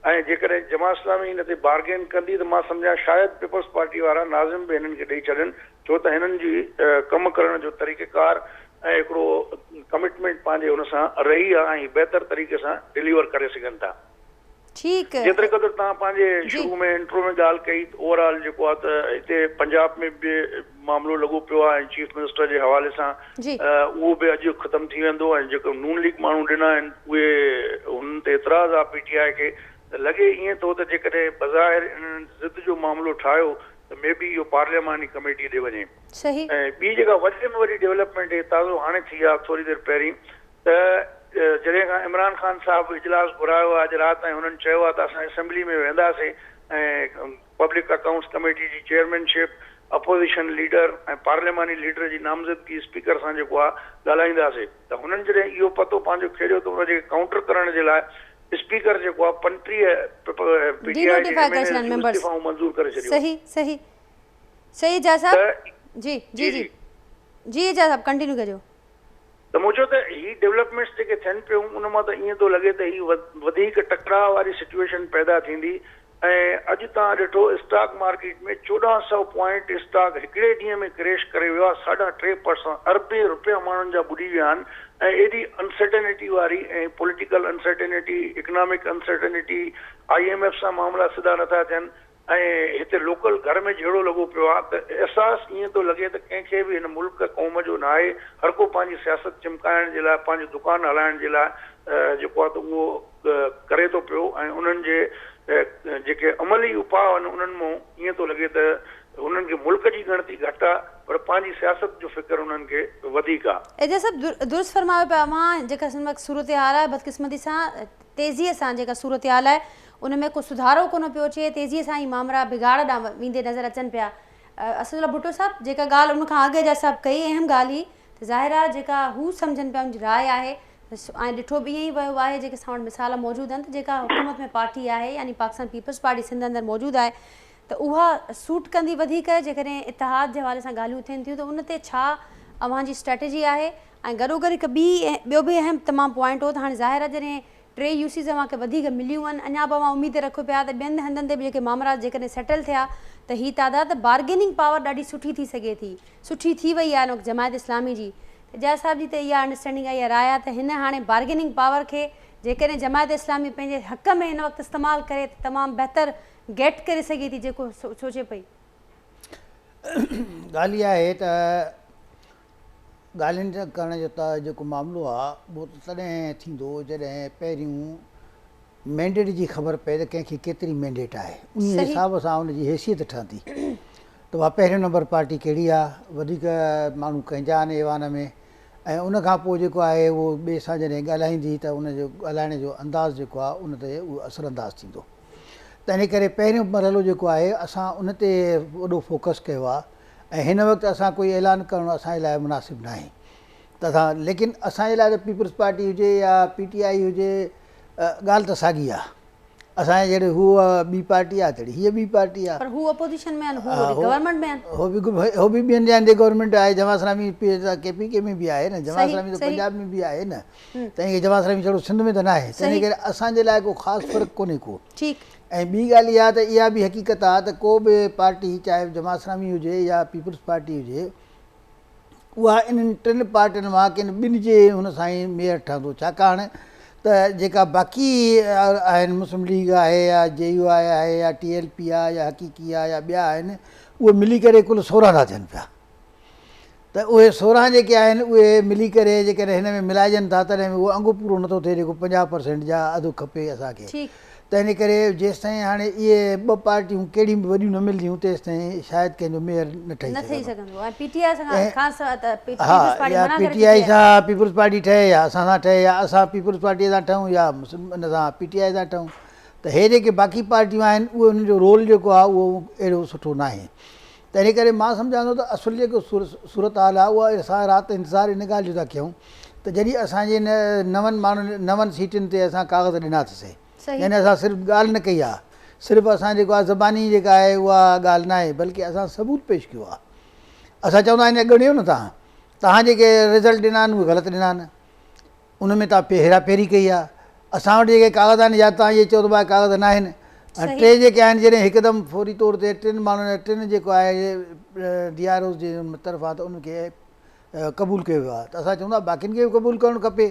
۽ جيڪڏهن جماعت اسلامي ان تي بارگين ڪندي ته مان سمجهان شايد پيپلز پارٽي وارا ناظم به هنن کي ڏئي ڇڏن ڇو ته هنن جي ڪم ڪرڻ جو طريقيڪار ۽ هڪڙو ڪمٽمينٽ پنهنجي ان سان رهي آ ۽ هي بهتر طريقي سان ڊليور ڪري سگهن ٿا. ٺيڪ. جيتري قدر تهان پنهنجي جي. شروع ۾ انٽرو ۾ ڳالهه ڪئي ته اوور آل جيڪو آ ته هتي پنجاب ۾ به معاملو لڳو پيو آ ۽ چيف منسٽر جي حوالي سان جي. اهو به اڄ ختم ٿي ويندو ۽ جيڪو نون ليگ ماڻهو ڏنا آهن اهي هنن تي اعتراض آ پي ٽي آء کي ته لڳي ائين ٿو ته جيڪڏهن بظاهر انهن ضد جو معاملو ٺاهيو ته مي بي اهو پارلياماني ڪميٽي ڏي وڃي صحيح. ۽ ٻي جيڪا وڏي ۾ وڏي ڊيولپمينٽ هي تازو هاڻي ٿي آ ٿوري دير پهرين ته جڏهن کان عمران خان صاحب اجلاس گهرايو آ اڄ رات تائين هنن چيو آ ته اسان اسيمبلي ۾ ويهنداسين ۽ پبلڪ اڪائونٽس ڪميٽي جي چيئرمين شپ اپوزيشن ليڊر ۽ پارلياماني ليڊر جي نامزدگي اسپيڪر سان جيڪو آ ڳالهائينداسين ته هنن جڏهن اهو پتو پنهنجو کيڙيو ته ان جي ڪائونٽر ڪرڻ جي لاء اسپيڪر جيڪو آهي پنٽيهه پ پ ۽ پي ڊي آء جي ايم اين ايز جون استعيفائون منظور ڪري ڇڏيون آهن. صحيح صحيح صحيح اعجاز صاحب ته جي جي جي جي اعجاز صاحب ڪنٽينيو ڪجو. ته مون چيو ته هي ڊولپمينٽس جيڪي ٿين پيون ان مان ته ائين ٿو لڳي ته هي وڌيڪ ٽڪراء واري سچوئيشن پيدا ٿيندي ۽ اڄ توهان ڏٺو اسٽاڪ مارڪيٽ ۾ چوڏهن سئو پوائنٽ اسٽاڪ هڪڙي ڏينهن ۾ ڪريش ڪري ويو آهي ساڍا ٽي پرسنٽ اربين روپيا ماڻهن جا ٻڏي ويا آهن ۽ ايڏي انسرٽنٽي واري ۽ political uncertainty economic uncertainty I M F سان معاملا سڌا نٿا ٿين ۽ هتي لوڪل گهر ۾ جهيڙو لڳو پيو آهي ته احساس ائين ٿو لڳي ته ڪنهن کي به هن ملڪ قوم جو ناهي هرڪو پنهنجي سياست چمڪائڻ جي لاء پنهنجو دڪان هلائڻ جي لاء جيڪو آهي ته اهو ڪري ٿو پيو ۽ انهن جي جيڪي عملي اپاء آهن انهن مون ائين ٿو لڳي ته انهن کي ملڪ جي ڳڻتي گهٽ آهي پر پنهنجي سياست جو فڪر انهن کي وڌيڪ آهي. ايجاز صاحب درست فرمايو پيا اوهان جيڪا هن وقت صورتحال آهي بدقسمتي سان تيزي سان جيڪا صورتحال آهي ان ۾ ڪو سڌارو ڪونه پيو اچي تيزي سان هي مامرا بگاڙ ڏانهن ويندي نظر اچن پيا اسدالله ڀٽو صاحب جيڪا ڳالهه ان کان اڳ ايجاز صاحب ڪئي اهم ڳالهه هي ته ظاهر آهي جيڪا هو سمجهن پيا ان جي راء آهي ۽ ڏٺو به ائين ئي ويو آهي جيڪي اسان وٽ مثال موجود آهن ته جيڪا حڪومت ۾ پارٽي آهي يعني پاڪستان پيپلز پارٽي سنڌ اندر موجود آهي ته اها سوٽ ڪندي وڌيڪ جيڪڏهن اتحاد جي حوالي سان ڳالهيون ٿين ٿيون ته ان تي ڇا اوهان جي اسٽريٽجي آهي ۽ گڏوگڏ هڪ ٻي ٻيو به اهم تمام پوائنٽ هو ته هاڻي ظاهر آهي جڏهن ٽي يو سيز اوهان کي وڌيڪ مليون هن اڃا به اوهان اميد رکيو پيا ته ٻين هنڌن تي به جيڪي مامرات جيڪڏهن سيٽل ٿيا ته هي تعداد بارگيننگ پاور ڏاڍي سٺي ٿي سگهي ٿي سٺي ٿي وئي آهي ان وقت جماعت اسلامي جي ته جاء صاحب جي ته اها انڊرسٽينڊنگ آهي يا راء آهي ته هن هاڻي بارگيننگ پاور کي جيڪڏهن جماعت اسلامي پنهنجي حق ۾ هن وقت استعمال ڪري ته تمام بهتر گيٽ ڪري سگهي ٿي جيڪو سوچي پئي. ڳالهه اها آهي ته ڳالهين ڪرڻ جو ته جيڪو معاملو آهي اهو ته تڏهن ٿيندو جڏهن پهريون مينڊيٽ جي خبر پئي ته ڪنهن کي ڪيتري مينڊيٽ آهي انهي حساب سان ان جي حيثيت ٺهندي ته اها پهريون نمبر پارٽي ڪهڙي آهي وڌيڪ ماڻهو ڪنهن جا آهن ايوان ۾ ۽ ان کان پوء جيڪو آهي اهو ٻئي سان جڏهن ڳالهائيندي ته ان جو ڳالهائڻ جو انداز جيڪو آهي ان تي اهو اثر انداز ٿيندو تنهن ڪري پهريون مرحلو جيڪو آهي اسان ان تي وڏو فوڪس ڪيو آهي ۽ هن وقت اسان ڪوئي اعلان ڪرڻ اسان جي لاء مناسب ناهي ته اسان ليڪن اسان جي لاء ته پيپلز پارٽي هجي يا پي ٽي آئي هجي ڳالهه ته ساڳي آهي اسان جي جهڙي هوء ٻي پارٽي آهي تهڙي هيء ٻي پارٽي آهي پر هو اپوزيشن ۾ آهن هو وري گورنمينٽ ۾ آهن هو به هو به ٻين جاين تي گورنمينٽ آهي جماعت اسلامي ڪي پي ڪي ۾ به آهي نه جماعت اسلامي ته پنجاب ۾ به آهي نه تنهن ڪري جماعت اسلامي جهڙو سنڌ ۾ ته ناهي تنهن ڪري اسان جي لاء ڪو خاص فرق ڪونهي ڪو ٺيڪ ۽ ٻي ڳالهه اها ته اها به حقيقت آهي ته ڪو به پارٽي چاهي جماعت اسلامي هجي يا پيپلز پارٽي هجي اها انهن ٽن پارٽين مان ڪن ٻن جي هن سان ئي ميئر ٺهندو ڇاڪاڻ ته جيڪا باقي آهن مسلم ليگ آهي يا جي يو آء آهي يا ٽي ايل پي آهي يا حقيقي آهي يا ٻيا آهن اهي ملي ڪري ڪل سورهن ٿا ٿين پيا ته اهي سورهن جيڪي آهن اهي ملي ڪري جيڪڏهن هن ۾ ملائجن ٿا تڏهن به اهو انگ پورو نٿو ٿئي جيڪو پنجاهه پرسينٽ جا اڌ کپي اسان کي تنهن ڪري جيستائين هاڻي اهي ٻه پارٽيون ڪهڙيون به وڏيون نه ملنديون تيستائين شايد ڪنهن جو ميئر نه ٺهي سگهندو ۽ پي ٽي آئي سان پيپلز پارٽي ٺهي يا اسان سان ٺهي يا اسان پيپلز پارٽي سان ٺهون يا ان سان پي ٽي آئي سان ٺهون ته هي جيڪي باقي پارٽيون آهن اهي ان جو رول جيڪو آهي اهو اهڙو سٺو ناهي تنهن ڪري مان سمجهان ٿو ته اصل جيڪو صورتحال آهي اها ساء رات انتظار ان ڳالهه جو ٿا ڪيون ته جڏهن اسان جي هن نون ماڻهن نون سيٽن تي اسان ڪاغذ ڏنا اٿس يعني اسان صرف ڳالهه نه ڪئي آهي صرف اسان جيڪو آهي زباني جيڪا آهي اها ڳالهه نه آهي بلڪه اسان ثبوت پيش ڪيو آهي اسان چون ٿا آئين اڳڻيو نه تهان تهان جيڪي رزلٽ ڏنا آهن اهي غلط ڏنا آهن ان ۾ توهان هيرا ڦيري ڪئي آهي. اسان وٽ جيڪي ڪاغذ آهن يا توهان اهي چئو ته اهي ڪاغذ ناهن ۽ صحيح. ٽي جيڪي آهن جڏهن هڪدم فوري طور تي ٽن ماڻهن يا ٽن جيڪو آهي ڊي آر اوز جي طرفان ته ان کي قبول ڪيو ويو آهي ته اسان چون ٿا باقين کي به قبول ڪرڻ کپي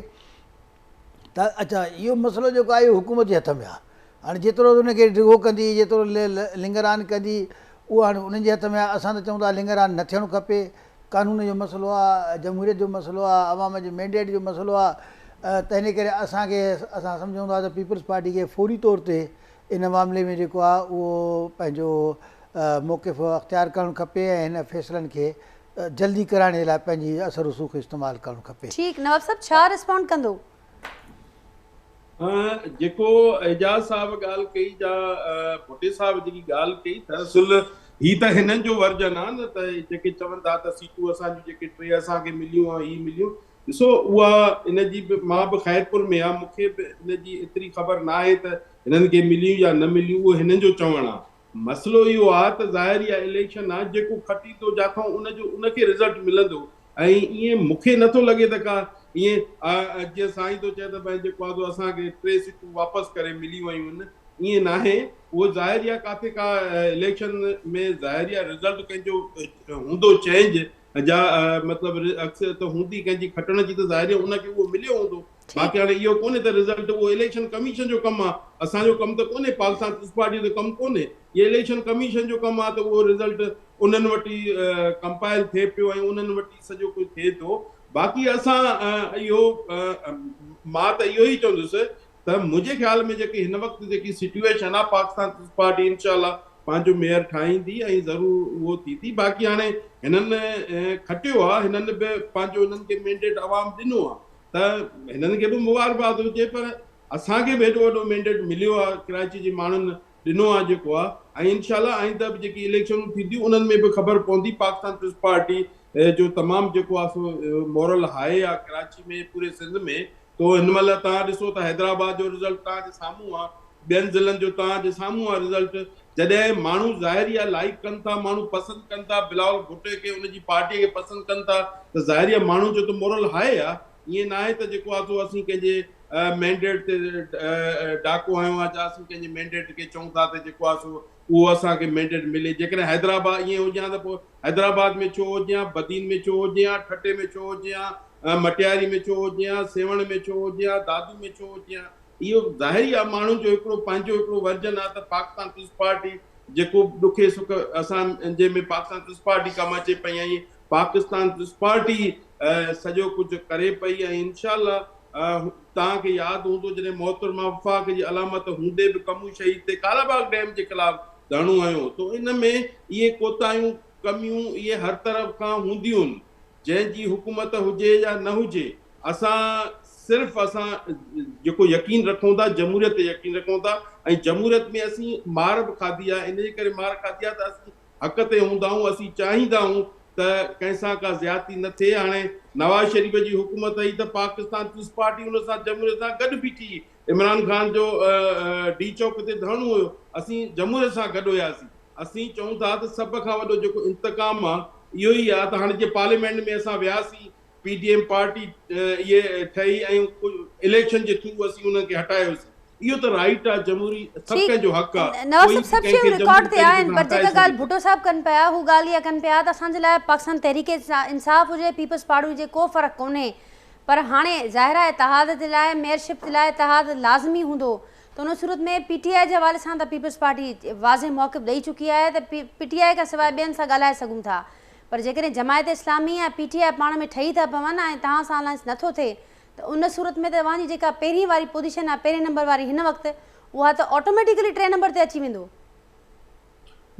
ته اچا اهو مسئلو جيڪو آهي اهو حڪومت جي هٿ ۾ آهي هاڻي جيترو ان کي ڊگهو ڪندي جيترو لنگران ڪندي اهو هاڻي انهن جي هٿ ۾ آهي اسان ته چون ٿا لنگران نه ٿيڻ کپي قانون جو مسئلو آ، جمهوريت جو مسئلو آ، عوام جي مينڊيٽ جو مسئلو آ تنهن ڪري اسان کي اسان سمجهون ٿا ته پيپلز پارٽي کي فوري طور تي ان معاملي ۾ جيڪو آ اهو پنهنجو موقف اختيار ڪرڻ کپي ۽ هن فيصلن کي جلدي ڪرائڻ جي لاء پنهنجي اثر رسوخ استعمال ڪرڻ کپي. ٺيڪ نواب صاحب ڇا رسپونڊ ڪندو. جيڪو اعجاز صاحب ڳالهه ڪئي جا ڀٽي صاحب جيڪي ڳالهه ڪئي ته اصل هي ته هنن جو ورجن آهي نه ته جيڪي چون ٿا ته سيٽون اسان جون جيڪي ٽي اسان کي مليون ۽ هي مليون ڏسو اها ان جي به مان به خيرپور ۾ آهيان مون کي به ان جي ايتري خبر ناهي ته هنن کي مليون يا نه مليون اهو هنن جو چوڻ آهي مسئلو اهو آ ته ظاهر اها اليڪشن آ جيڪو کٽي ٿو جاٿئون ان جو ان کي رزلٽ ملندو ۽ ائين مون کي نٿو لڳي ته ڪا ائين جيئن سائين ٿو چئي ته بئن جيڪو آ سو اسان کي ٽي سيٽون واپس ڪري ملي ويون آهن ائين ناهي اهو ظاهر اها ڪاٿي ڪا اليڪشن ۾ ظاهر اها رزلٽ ڪنهن جو هوندو چينج جا مطلب عڪس ته هوندي ڪنهن جي کٽڻ جي ته ظاهر هي ان کي اهو مليو هوندو باقي هاڻي اهو ڪونهي ته رزلٽ اهو اليڪشن ڪميشن جو ڪم آ اسان جو ڪم ته ڪونهي پاڪستان پيپلز پارٽي جو ته ڪم ڪونهي اهو اليڪشن ڪميشن جو ڪم آ ته اهو رزلٽ انهن وٽ ئي ڪمپائل ٿئي پيو ۽ انهن وٽ ئي سڄو ڪجهه ٿئي ٿو باقي اسان اهو مان ته اهو ئي چوندس ته منهنجي خيال ۾ جيڪي هن وقت جيڪي سٽيوئيشن آ پاڪستان پيپلز پارٽي انشاء الله پنهنجو ميئر ٺاهيندي ۽ ضرور اهو ٿيندي باقي هاڻي هنن کٽيو آ هنن به پنهنجو هنن کي مينڊيٽ عوام ڏنو آ ته هنن کي به مبارڪباد هجي پر اسان کي به هيڏو وڏو مينڊيٽ مليو آ ڪراچي جي ماڻهن ڏنو آهي جيڪو آهي ۽ انشاء الله آئنده به جيڪي اليڪشنون ٿينديون انهن ۾ به خبر پوندي پاڪستان پيپلز پارٽي جو تمام جيڪو آهي سو مورل هاء آهي ڪراچي ۾ پوري سنڌ ۾ تو هن مهل توهان ڏسو ته حيدرآباد جو رزلٽ توهان جي سامهون آهي ٻين ضلعن جو توهان جي سامهون آهي رزلٽ جڏهن ماڻهو ظاهري آهي لائيڪ ڪن ٿا ماڻهو پسند ڪن ٿا بلاول ڀٽي کي ان جي پارٽي کي پسند ڪن ٿا ته ظاهري آهي ماڻهن جو ته مورل هاء آهي ائين ناهي ته جيڪو آهي سو اسين ڪنهن جي مينڊيٽ تي ڊاڪو هنيو آهي جا اسين ڪنهن جي مينڊيٽ کي چئون ٿا ته جيڪو آهي سو اهو اسان کي مينڊيٽ ملي جيڪڏهن حيدرآباد ائين هجي ها ته پوء حيدرآباد ۾ ڇو هجي ها بدين ۾ ڇو هجي ها ٺٽي ۾ ڇو هجي ها مٽياري ۾ ڇو هجي ها سيوهڻ ۾ ڇو هجي ها دادو ۾ ڇو هجي ها اهو ظاهر ئي آهي ماڻهن جو هڪڙو پنهنجو هڪڙو ورجن آهي ته پاڪستان پيپلز پارٽي جيڪو به ڏکي سک اسان جنهن ۾ پاڪستان پيپلز پارٽي ڪم اچي پئي ۽ پاڪستان پلس پارٽي سڄو ڪجهه ڪري پئي ۽ انشاء الله توهان کي ياد هوندو جڏهن محترمه وفاق جي علامت هوندي به ڪمون شهيد تي ڪالا باغ ڊيم جي خلاف ڌرڻو هنيو تو ان ۾ اهي ڪوتاهيون ڪميون اهي هر طرف کان هونديون جنهن جي حڪومت هجي يا نه هجي اسان صرف اسان جيڪو يقين رکون ٿا جمهوريت تي يقين رکون ٿا ۽ جمهوريت ۾ اسين مار به کاڌي آهي ان جي ڪري مار کاڌي آهي ته اسين حق تي هوندائون اسين چاهيندائون ته ڪنهن سان ڪا زيادتي نه ٿئي هاڻي نواز شريف جي حڪومت هئي ته پاڪستان پيس پارٽي ان سان جمهوريت سان گڏ بيٺي هئي عمران خان جو ڊي چوڪ تي ڌرڻو هيو اسين جمهوريت سان گڏ هياسين اسين چئون ٿا ته سڀ کان وڏو جيڪو انتقام آ اهو ئي آ ته هاڻي جي پارليامينٽ ۾ اسان وياسين پي ڊي ايم پارٽي اهي ٺهي ۽ اليڪشن جي ٿرو اسين انهن کي هٽايوسين. اهو ته رائيٽ آ جمهوري سڀ ڪنهن جو حق آ. نواز صاحب سڀ شيون رڪارڊ تي آهن پر جيڪا ڳالهه ڀٽو صاحب ڪن پيا هو ڳالهه اها ڪن پيا ته اسان جي لاء پاڪستان تحريڪ انصاف هجي پيپلز پارٽي هجي ڪو فرق ڪونهي پر هاڻي ظاهر آ اتحاد جي لاء ميئر شپ جي لاء اتحاد لازمي هوندو ته ان صورت ۾ پي ٽي آء جي حوالي سان ته پيپلز پارٽي واضح موقف ڏئي چڪي آهي ته پي ٽي آء کان سواء ٻين سان ڳالهائي سگهون ٿا پر جيڪڏهن جماعت اسلامي ۽ پي ٽي آء پاڻ ۾ ٺهي ٿا پون ۽ توهان سان الائنس نه ٿو ٿئي ته ان صورت ۾ ته اوهان جي جيڪا پهرين واري پوزيشن آهي پهرين نمبر واري هن وقت اها ته آٽوميٽيڪلي ٽئين نمبر تي اچي ويندو.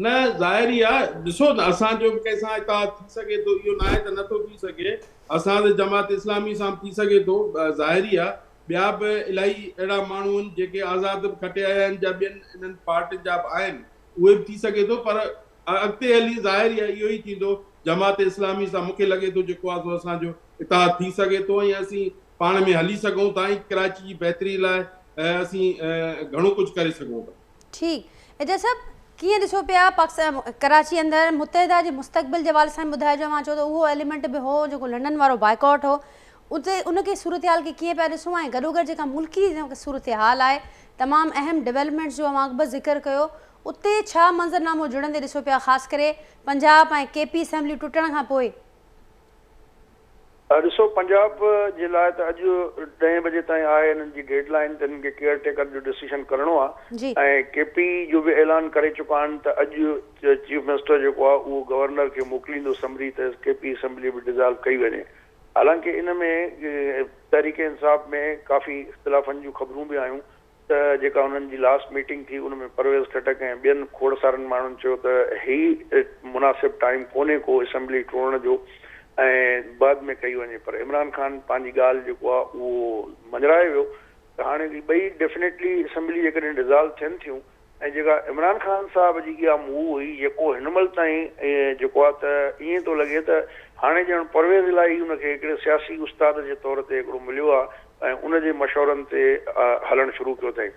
نه ظاهر ئي آهي ڏسو نه اسان جو به ڪنهن سان اتحاد ٿي سگهي ٿو اهو ناهي ته نه ٿو ٿي سگهي اسان سان جماعت اسلامي سان به ٿي سگهي ٿو ظاهر ئي آهي ٻيا به الائي اهڙا ماڻهو آهن جيڪي آزاد به کٽي آيا آهن جا ٻين انهن پارٽين جا به آهن اهي به ٿي سگهي ٿو پر ۽ اڳتي هلي ظاهر يا اهو ئي ٿيندو جماعت اسلامي سان مونکي لڳي ٿو جيڪو آ سو اسان جو اتحاد ٿي سگهي ٿو ۽ اسين پاڻ ۾ هلي سگهون ٿا ۽ ڪراچي جي بهتري لاء اسين گهڻو ڪجهه ڪري سگهون ٿا. ٺيڪ ايجاز صاحب ڪيئن ڏسو پيا پاڪستان ڪراچي اندر متحده جي مستقبل جي حوالي سان ٻڌائجو اوهان چئو ته اهو ايليمينٽ به هو جيڪو لنڊن وارو بائيڪاٽ هو اتي ان کي صورتحال کي ڪيئن پيا ڏسو ۽ گڏوگڏ جيڪا ملڪي صورتحال آهي تمام اهم ڊيولپمينٽس جو اوهان اڳ به ذڪر ڪيو اتي ڇا منظرنامو جڙندي ڏسو پيا خاص ڪري پنجاب ۽ ڪي پي اسيمبليون ٽٽڻ کان پوء. ڏسو پنجاب جي لاء ته اڄ ڏهين بجي تائين آهي هنن جي ڊيڊ لائين ته هنن کي ڪيئر ٽيڪر جو ڊسيشن ڪرڻو آهي ۽ ڪي پي جو به اعلان ڪري چڪا آهن ته اڄ چيف منسٽر جيڪو آهي اهو گورنر کي موڪليندو سمري ته ڪي پي اسيمبلي به ڊزالو ڪئي وڃي حالانڪه ان ۾ تحريڪ انصاف ۾ ڪافي اختلافن جون خبرون به آيون ته جيڪا انهن جي لاسٽ ميٽنگ ٿي ان ۾ پرويز خٽڪ ۽ ٻين کوڙسارن ماڻهن چيو ته هي مناسب ٽائيم ڪونهي ڪو اسيمبلي ٽوڙڻ جو ۽ بعد ۾ ڪئي وڃي پر عمران خان پنهنجي ڳالهه جيڪو آهي اهو مڃرائي ويو ته هاڻي هي ٻئي ڊيفنيٽلي اسيمبلي جيڪڏهن ڊزالو ٿين ٿيون ۽ جيڪا عمران خان صاحب جي اها موو هئي جيڪو هن مهل تائين جيڪو آهي ته ائين ٿو لڳي ته هاڻي ڄڻ پرويز الاهي ان کي هڪڙي سياسي استاد جي طور تي هڪڙو مليو آهي ۽ ان جي مشورن تي هلڻ شروع ڪيو اٿئي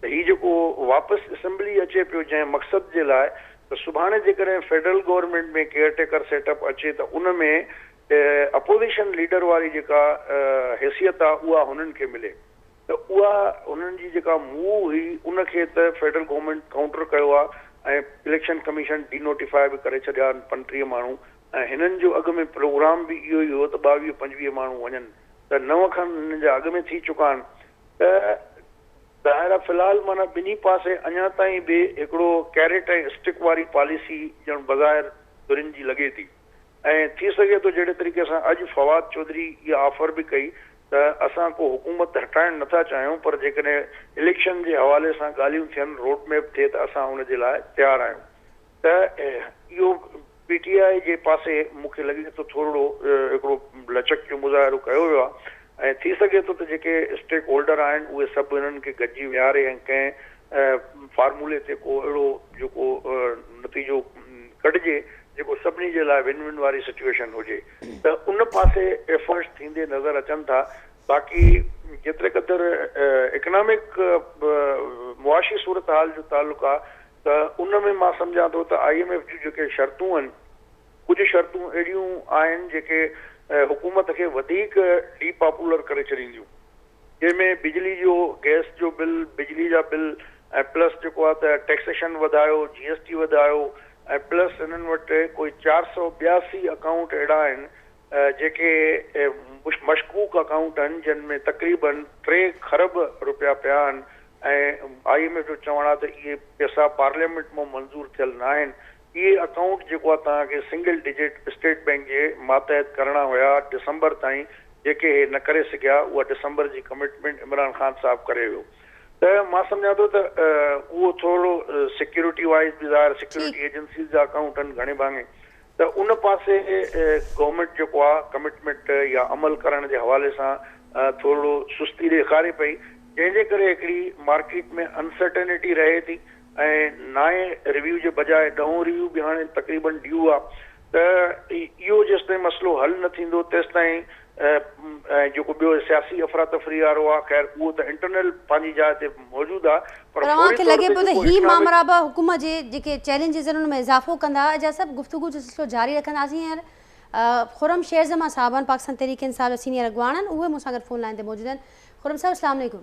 ته هي جيڪو واپس اسيمبلي اچي پيو جنهن مقصد جي لاء ته سڀاڻي جيڪڏهن federal government ۾ caretaker set up اچي ته ان ۾ اپوزيشن ليڊر واري جيڪا حيثيت آهي اها هنن کي ملي ته اها هنن جي جيڪا موو هئي ان کي ته فيڊرل گورنمينٽ ڪائونٽر ڪيو آهي ۽ اليڪشن ڪميشن ڊي نوٽيفاء به ڪري ڇڏيا آهن پنٽيهه ماڻهو ۽ هنن جو اڳ ۾ پروگرام به اهو ئي هو ته ٻاويهه پنجويهه ماڻهو وڃن ته نو کن هنن جا اڳ ۾ ٿي چڪا آهن ته ظاهر آهي في الحال معنيٰ ٻنهي پاسي اڃا تائين به هڪڙو ڪيريٽ ۽ اسٽڪ واري پاليسي ڄڻ بظاهر ڌرين جي لڳي ٿي. ۽ ٿي سگهي ٿو جهڙي طريقي سان اڄ فواد چوڌري اها آفر به ڪئي ته اسان ڪو حڪومت هٽائڻ نه ٿا چاهيون پر جيڪڏهن اليڪشن جي حوالي سان ڳالهيون ٿين روڊ ميپ ٿئي ته اسان ان جي لاء تيار آهيون ته اهو پي ٽي آء جي پاسي مون کي لڳي ٿو ٿورڙو هڪڙو لچڪ جو مظاهرو ڪيو ويو آهي ۽ ٿي سگهي ٿو ته جيڪي اسٽيڪ هولڊر آهن اهي سڀ انهن کي گڏجي ويهاري ۽ ڪنهن فارمولي تي ڪو اهڙو جيڪو نتيجو ڪڍجي جيڪو سڀني جي لاء ون ون واري سچوئيشن هجي ته ان پاسي ايفرٽس ٿيندي نظر اچن ٿا باقي جيتري قدر اڪنامڪ معاشي صورتحال جو تعلق آهي ته ان ۾ مان سمجهان ٿو ته آئي ايم ايف جون جيڪي شرطون آهن ڪجهه شرطون اهڙيون آهن جيڪي حڪومت کي وڌيڪ ڊي پاپولر ڪري ڇڏينديون. جنهن ۾ بجلي جو، گئس جو بل، بجلي جا بل ۽ پلس جيڪو آهي ته ٽيڪسيشن وڌايو، جي ايس ٽي وڌايو ۽ پلس هنن وٽ ڪوئي چار سؤ ٻياسي اڪائونٽ اهڙا آهن جيڪي مشڪوڪ اڪائونٽ آهن جن ۾ تقريبن ٽي کرب رپيا پيا آهن ۽ آء ايم ايف جو چوڻ آهي ته اهي پيسا پارليامينٽ مان منظور ٿيل ناهن اهي اڪائونٽ جيڪو توهان کي سنگل ڊجٽ اسٽيٽ بئنڪ جي ماتحت ڪرڻا هيا ڊسمبر تائين جيڪي هي نه ڪري سگهيا اها ڊسمبر جي ڪمٽمينٽ عمران خان صاحب ڪري ويو ته مان سمجهان ٿو ته اهو ٿورڙو سيڪيورٽي وائز به ظاهر سيڪيورٽي ايجنسيز جا اڪائونٽ آهن گهڻي ڀاڱي ته ان پاسي گورنمينٽ جيڪو آهي ڪمٽمينٽ يا عمل ڪرڻ جي حوالي سان ٿورڙو سستي ڏيکاري پئي جنهن جي ڪري هڪڙي مارڪيٽ ۾ انسرٽنٽي رهي ٿي ۽ نائين ريويو جي بجاء ڏهون ريويو به هاڻي تقريبن ڊيو آ ته اهو جيستائين مسئلو حل نه ٿيندو تيستائين ۽ جيڪو ٻيو سياسي افراتفري وارو آ خير اهو ته انٽرنل پنهنجي جاء تي موجود آ پر فوري طور تي جيڪو اسلامڪ. پر اوهان کي لڳي پيو ته هي مامرا به حڪومت جي جيڪي چئلينجز آهن ان ۾ اضافو ڪندا اجاز صاحب گفتگو جو سلسلو جاري رکنداسين هينئر خرم شير زمان صاحب آهن پاڪستان تحريڪ انصاف جا سينئر اڳواڻ آهن اهي مون سان گڏ فون لائين تي موجود آهن خرم صاحب اسلام عليڪم.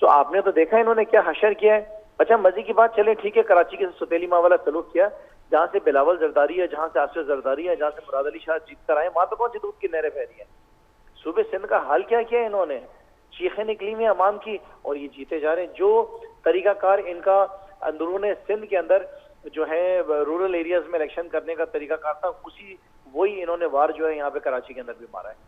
سو آپ ني تو ديکا انهون ني ڪيا حشر ڪيا هي اچها مزي ڪي بات چلين ٺيڪ هي ڪراچي ڪي ستيلي ماء والا سلوڪ ڪيا جهان سي بلاول زرداري هي جهان سي آصف زرداري هي جهان سي مراد علي شاه جيت ڪر آئي ماء تو ڪونسي دودھ ڪي نهرين بهه رهي هين صوبه سندھ ڪا حال ڪيا ڪيا هي انهون ني چيخين نڪلي هوئي هين عوام ڪي اور يي جيتي جا رهي هين جو طريقه ڪار انڪا اندرون سندھ ڪي اندر جو هي رورل ايرياز مين اليڪشن ڪرني ڪا طريقه ڪار ٿا اسي وهي انهون ني وار جو هي يهان پي ڪراچي ڪي اندر بي مارا هي.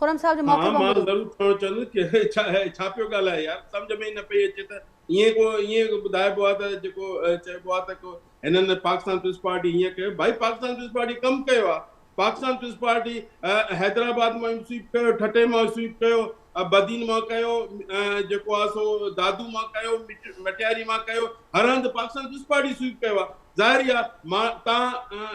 خرم صاحب جو موقعي وانگوري. ها مان ضرور ٿو چون ڪي ڇا پيو ڳالهائي يار سمجهه ۾ ئي نه پئي اچي ته ائين ڪو ائين ٻڌائبو آ ته جيڪو چئبو آ ته ڪو هنن پاڪستان پيپلز پارٽي هيئن ڪيو ڀائي پاڪستان پيپلز پارٽي ڪم ڪيو آ پاڪستان پيپلز پارٽي حيدرآباد مان سويپ ڪيو ٺٽي مان سويپ ڪيو بدين مان ڪيو جيڪو آ سو دادو مان ڪيو مٽياري مان ڪيو هر هنڌ پاڪستان پيپلز پارٽي سويپ ڪيو آ ظاهر ئي آ مان تان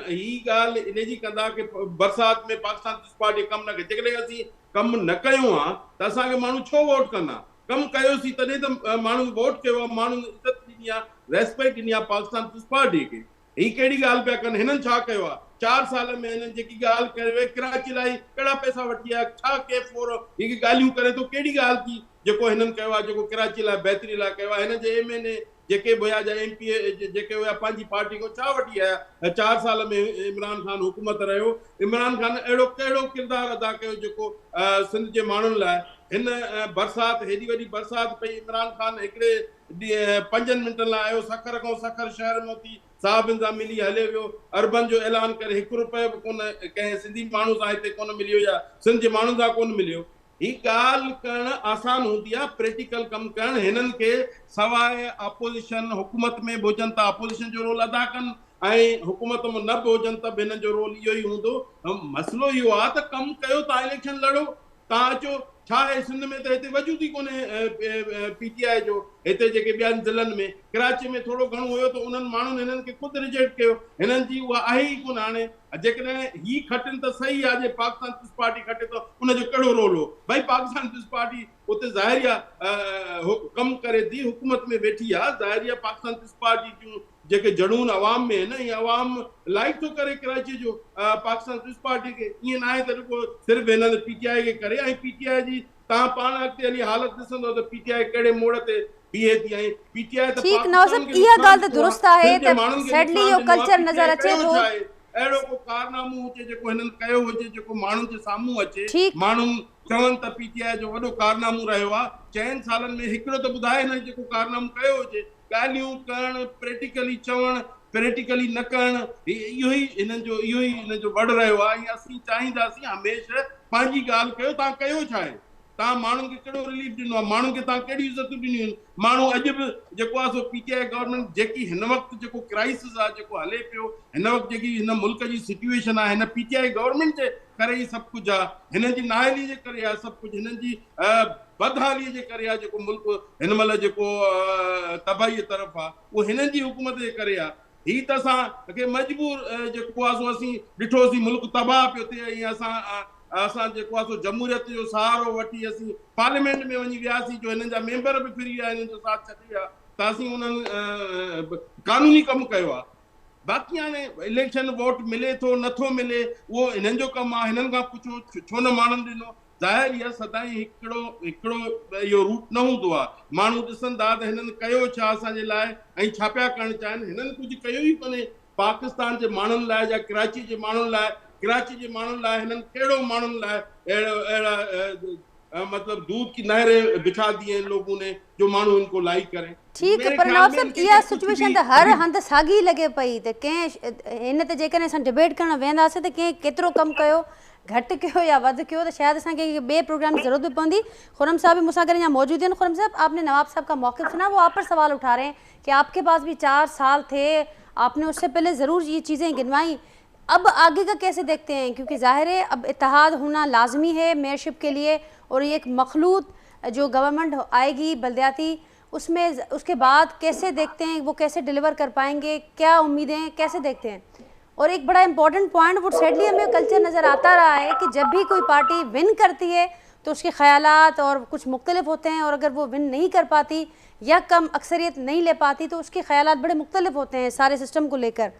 هي ڳالهه ان جي ڪندا ڪي برسات ۾ پاڪستان پارٽي ڪم نه ڪئي جيڪڏهن اسين ڪم نه ڪيو ها ته اسان کي ماڻهو ڇو ووٽ ڪندا ڪم ڪيوسين تڏهن ته ماڻهن ووٽ ڪيو آهي ماڻهن عزت ڏني آهي ريسپيڪٽ ڏني آهي پاڪستان پيپلز پارٽي کي هي ڪهڙي ڳالهه پيا ڪن هنن ڇا ڪيو آهي چار سال ۾ هنن جيڪي ڳالهه ڪري وئي ڪراچي لاء ڪهڙا پئسا وٺي آيا ڇا ڪي فور هي ڳالهيون ڪري ٿو ڪهڙي ڳالهه ٿي جيڪو هنن ڪيو آهي جيڪو ڪراچي لاء بهتري لاء ڪيو آهي هنن جي ايم اين اي جيڪي به هيا جا ايم پي اي جيڪي هيا پنهنجي پارٽي کان ڇا وٺي آيا هيا چار سال ۾ عمران خان حڪومت رهيو عمران خان اهڙو ڪهڙو ڪردار ادا ڪيو جيڪو سنڌ جي ماڻهن لاء هن برسات هيڏي وڏي برسات پئي عمران خان هڪڙي پنجن منٽن لاء آيو سکر کان سکر شهر موتي صاحب انظام ملي هليو ويو اربن جو اعلان ڪري هڪ روپيه به ڪونه ڪنهن سنڌي ماڻهو سان هتي ڪونه مليو يا سنڌ جي ماڻهن سان ڪونه مليو هي ڳالهه ڪرڻ آسان هوندي آ پريٽيڪل ڪم ڪرڻ هنن کي سواء اپوزيشن حڪومت ۾ به هجن ته اپوزيشن جو رول ادا ڪن ۽ حڪومت م نه به هجن ته به هنن جو رول اهو ئي هوندو مسئلو اهو آ ته ڪم ڪيو تان اليڪشن لڙو تان اچو ڇا اهي سنڌ ۾ ته هتي وجود ئي ڪونهي پي ٽي آء جو هتي جيڪي ٻين ضلعن ۾ ڪراچي ۾ ٿورو گهڻو هيو ته انهن ماڻهن هنن کي خود ريجيڪٽ ڪيو هنن جي اها آهي ئي ڪونه هاڻي ها جيڪڏهن هي کٽن ته صحيح آ جي پاڪستان پيپلز پارٽي کٽي ته ان جو ڪهڙو رول هو ڀائي پاڪستان پيپلز پارٽي اتي ظاهري آ ڪم ڪري ٿي حڪومت ۾ ويٺي آ ظاهري آ پاڪستان پيپلز پارٽي جون جيڪي جڙون عوام ۾ آهن اهي عوام لائق ٿو ڪري ڪراچي جو پاڪستان پيپلز پارٽي کي ائين ناهي ته رڳو صرف هنن پي ٽي آء کي ڪري ۽ پي ٽي آء جي توهان پاڻ اڳتي هلي حالت ڏسندؤ ته پي ٽي آء ڪهڙي موڙ تي بيهي ٿي ۽ پي ٽي آء ته پاڪستان کي نقصان ڏنو آهي، سنڌ جي ماڻهن کي نقصان ڏنو آهي، پي ٽي آء ڪيو ڇا آهي؟ اهڙو ڪو ڪارنامو هجي جيڪو هنن ڪيو هجي جيڪو ماڻهن جي سامهون اچي، ماڻهو چون ته پي ٽي آء جو وڏو ڪارنامو رهيو آهي، چئن سالن ۾ هڪڙو ته ٻڌائي هنن جيڪو ڪارنامو ڪيو هجي. ڳالهيون ڪرڻ، پريٽيڪلي چوڻ، پريٽيڪلي نه ڪرڻ، اهو ئي هنن جو اهو ئي هنن جو وڙ رهيو آهي ۽ اسين چاهينداسين هميشه پنهنجي ڳالهه ڪيو توهان ڪيو ڇا آهي؟ توهان ماڻهن کي ڪهڙو رليف ڏنو آهي؟ ماڻهن کي توهان ڪهڙيون عزتون ڏنيون آهن؟ ماڻهو اڄ به جيڪو آهي سو پي ٽي آء گورنمينٽ جيڪي هن وقت جيڪو ڪرائسز آهي جيڪو هلي پيو هن وقت جيڪي هن ملڪ جي سچويشن آهي هن پي ٽي آء گورنمينٽ جي ڪري ئي سڀ ڪجهه آهي هنن جي نااهلي جي ڪري آهي سڀ ڪجهه هنن جي بدحالي جي ڪري آ جيڪو ملڪ هن مهل جيڪو تباهي طرف آ اهو هنن جي حڪومت جي ڪري آ هي ته اسان کي مجبور جيڪو آ سو اسين ڏٺو سي ملڪ تباهه پيو ٿئي ۽ اسان اسان جيڪو آ سو جمهوريت جو سهارو وٺي اسين پارليامينٽ ۾ وڃي وياسي جو هنن جا ميمبر به فري آ هنن جو ساٿ ڇڏي ويا ته اسين انهن قانوني ڪم ڪيو آ باقي هاڻي اليڪشن ووٽ ملي ٿو نٿو ملي اهو هنن جو ڪم آ هنن کان پڇو ڇو نه ماڻهن ڏنو ظاهر ئي آهي سدائين هڪڙو هڪڙو اهو روٽ نه هوندو آهي. ماڻهو ڏسن ٿا ته هنن ڪيو ڇا اسان جي لاء ۽ ڇا پيا ڪرڻ چاهين. هنن ڪجهه ڪيو ئي ڪونهي پاڪستان جي ماڻهن لاء يا ڪراچي جي ماڻهن لاء. ڪراچي جي ماڻهن لاء هنن ڪهڙو ماڻهن لاء اهڙو اهڙا مطلب دودھ ڪي نهرين بڇا دي هين لوگون ني جو ماڻهو ان ڪو لائيڪ ڪرين. ٺيڪ پر نواب صاحب اها سچويشن ته هر هنڌ ساڳي لڳي پئي ته ڪنهن هن تي جيڪڏهن اسان ڊبيٽ ڪرڻ ويهنداسين ته ڪنهن ڪيترو ڪم ڪيو گهٽ ڪيو يا وڌ ڪيو ته شايد اسان کي ٻئي پروگرام جي ضرورت به پوندي خرم صاحب به مون سان گڏ اڃا موجود آهن خرم صاحب آپ ني نواب صاحب کا موقف سنا وہ آپ پر سوال اٺا رهي هين ڪي آپ ڪي پاس به چار سال ٿي آپ ني اس سي پهلي ضرور يي چيزين گنوائي اب آگي کا ڪيسي ديکتي هين ڪيونڪه ظاهر هي اب اتحاد هونا لازمي هي ميئر شپ ڪي ليئي اور يي ايڪ مخلوط جو گورنمنٽ آئي گي بلدياتي اس مين اس ڪي بعد ڪيسي ديکتي هين وو ڪيسي ڊليور ڪر پائين گي ڪيا اميدين هين ڪيسي ديکتي هين اور ايڪ بڙا امپورٽنٽ پوائنٽ وو سيڊلي همي يو ڪلچر نظر آتا رها هي ڪي جب ڀي ڪوئي پارٽي ون ڪرتي هي تو اس ڪي خيالات اور ڪچھ مختلف هوتي هين اور اگر وو ون نهين ڪر پاتي يا ڪم اڪثريت نهين لي پاتي تو اس ڪي خيالات بڙي مختلف هوتي هين ساري سسٽم ڪو ليڪر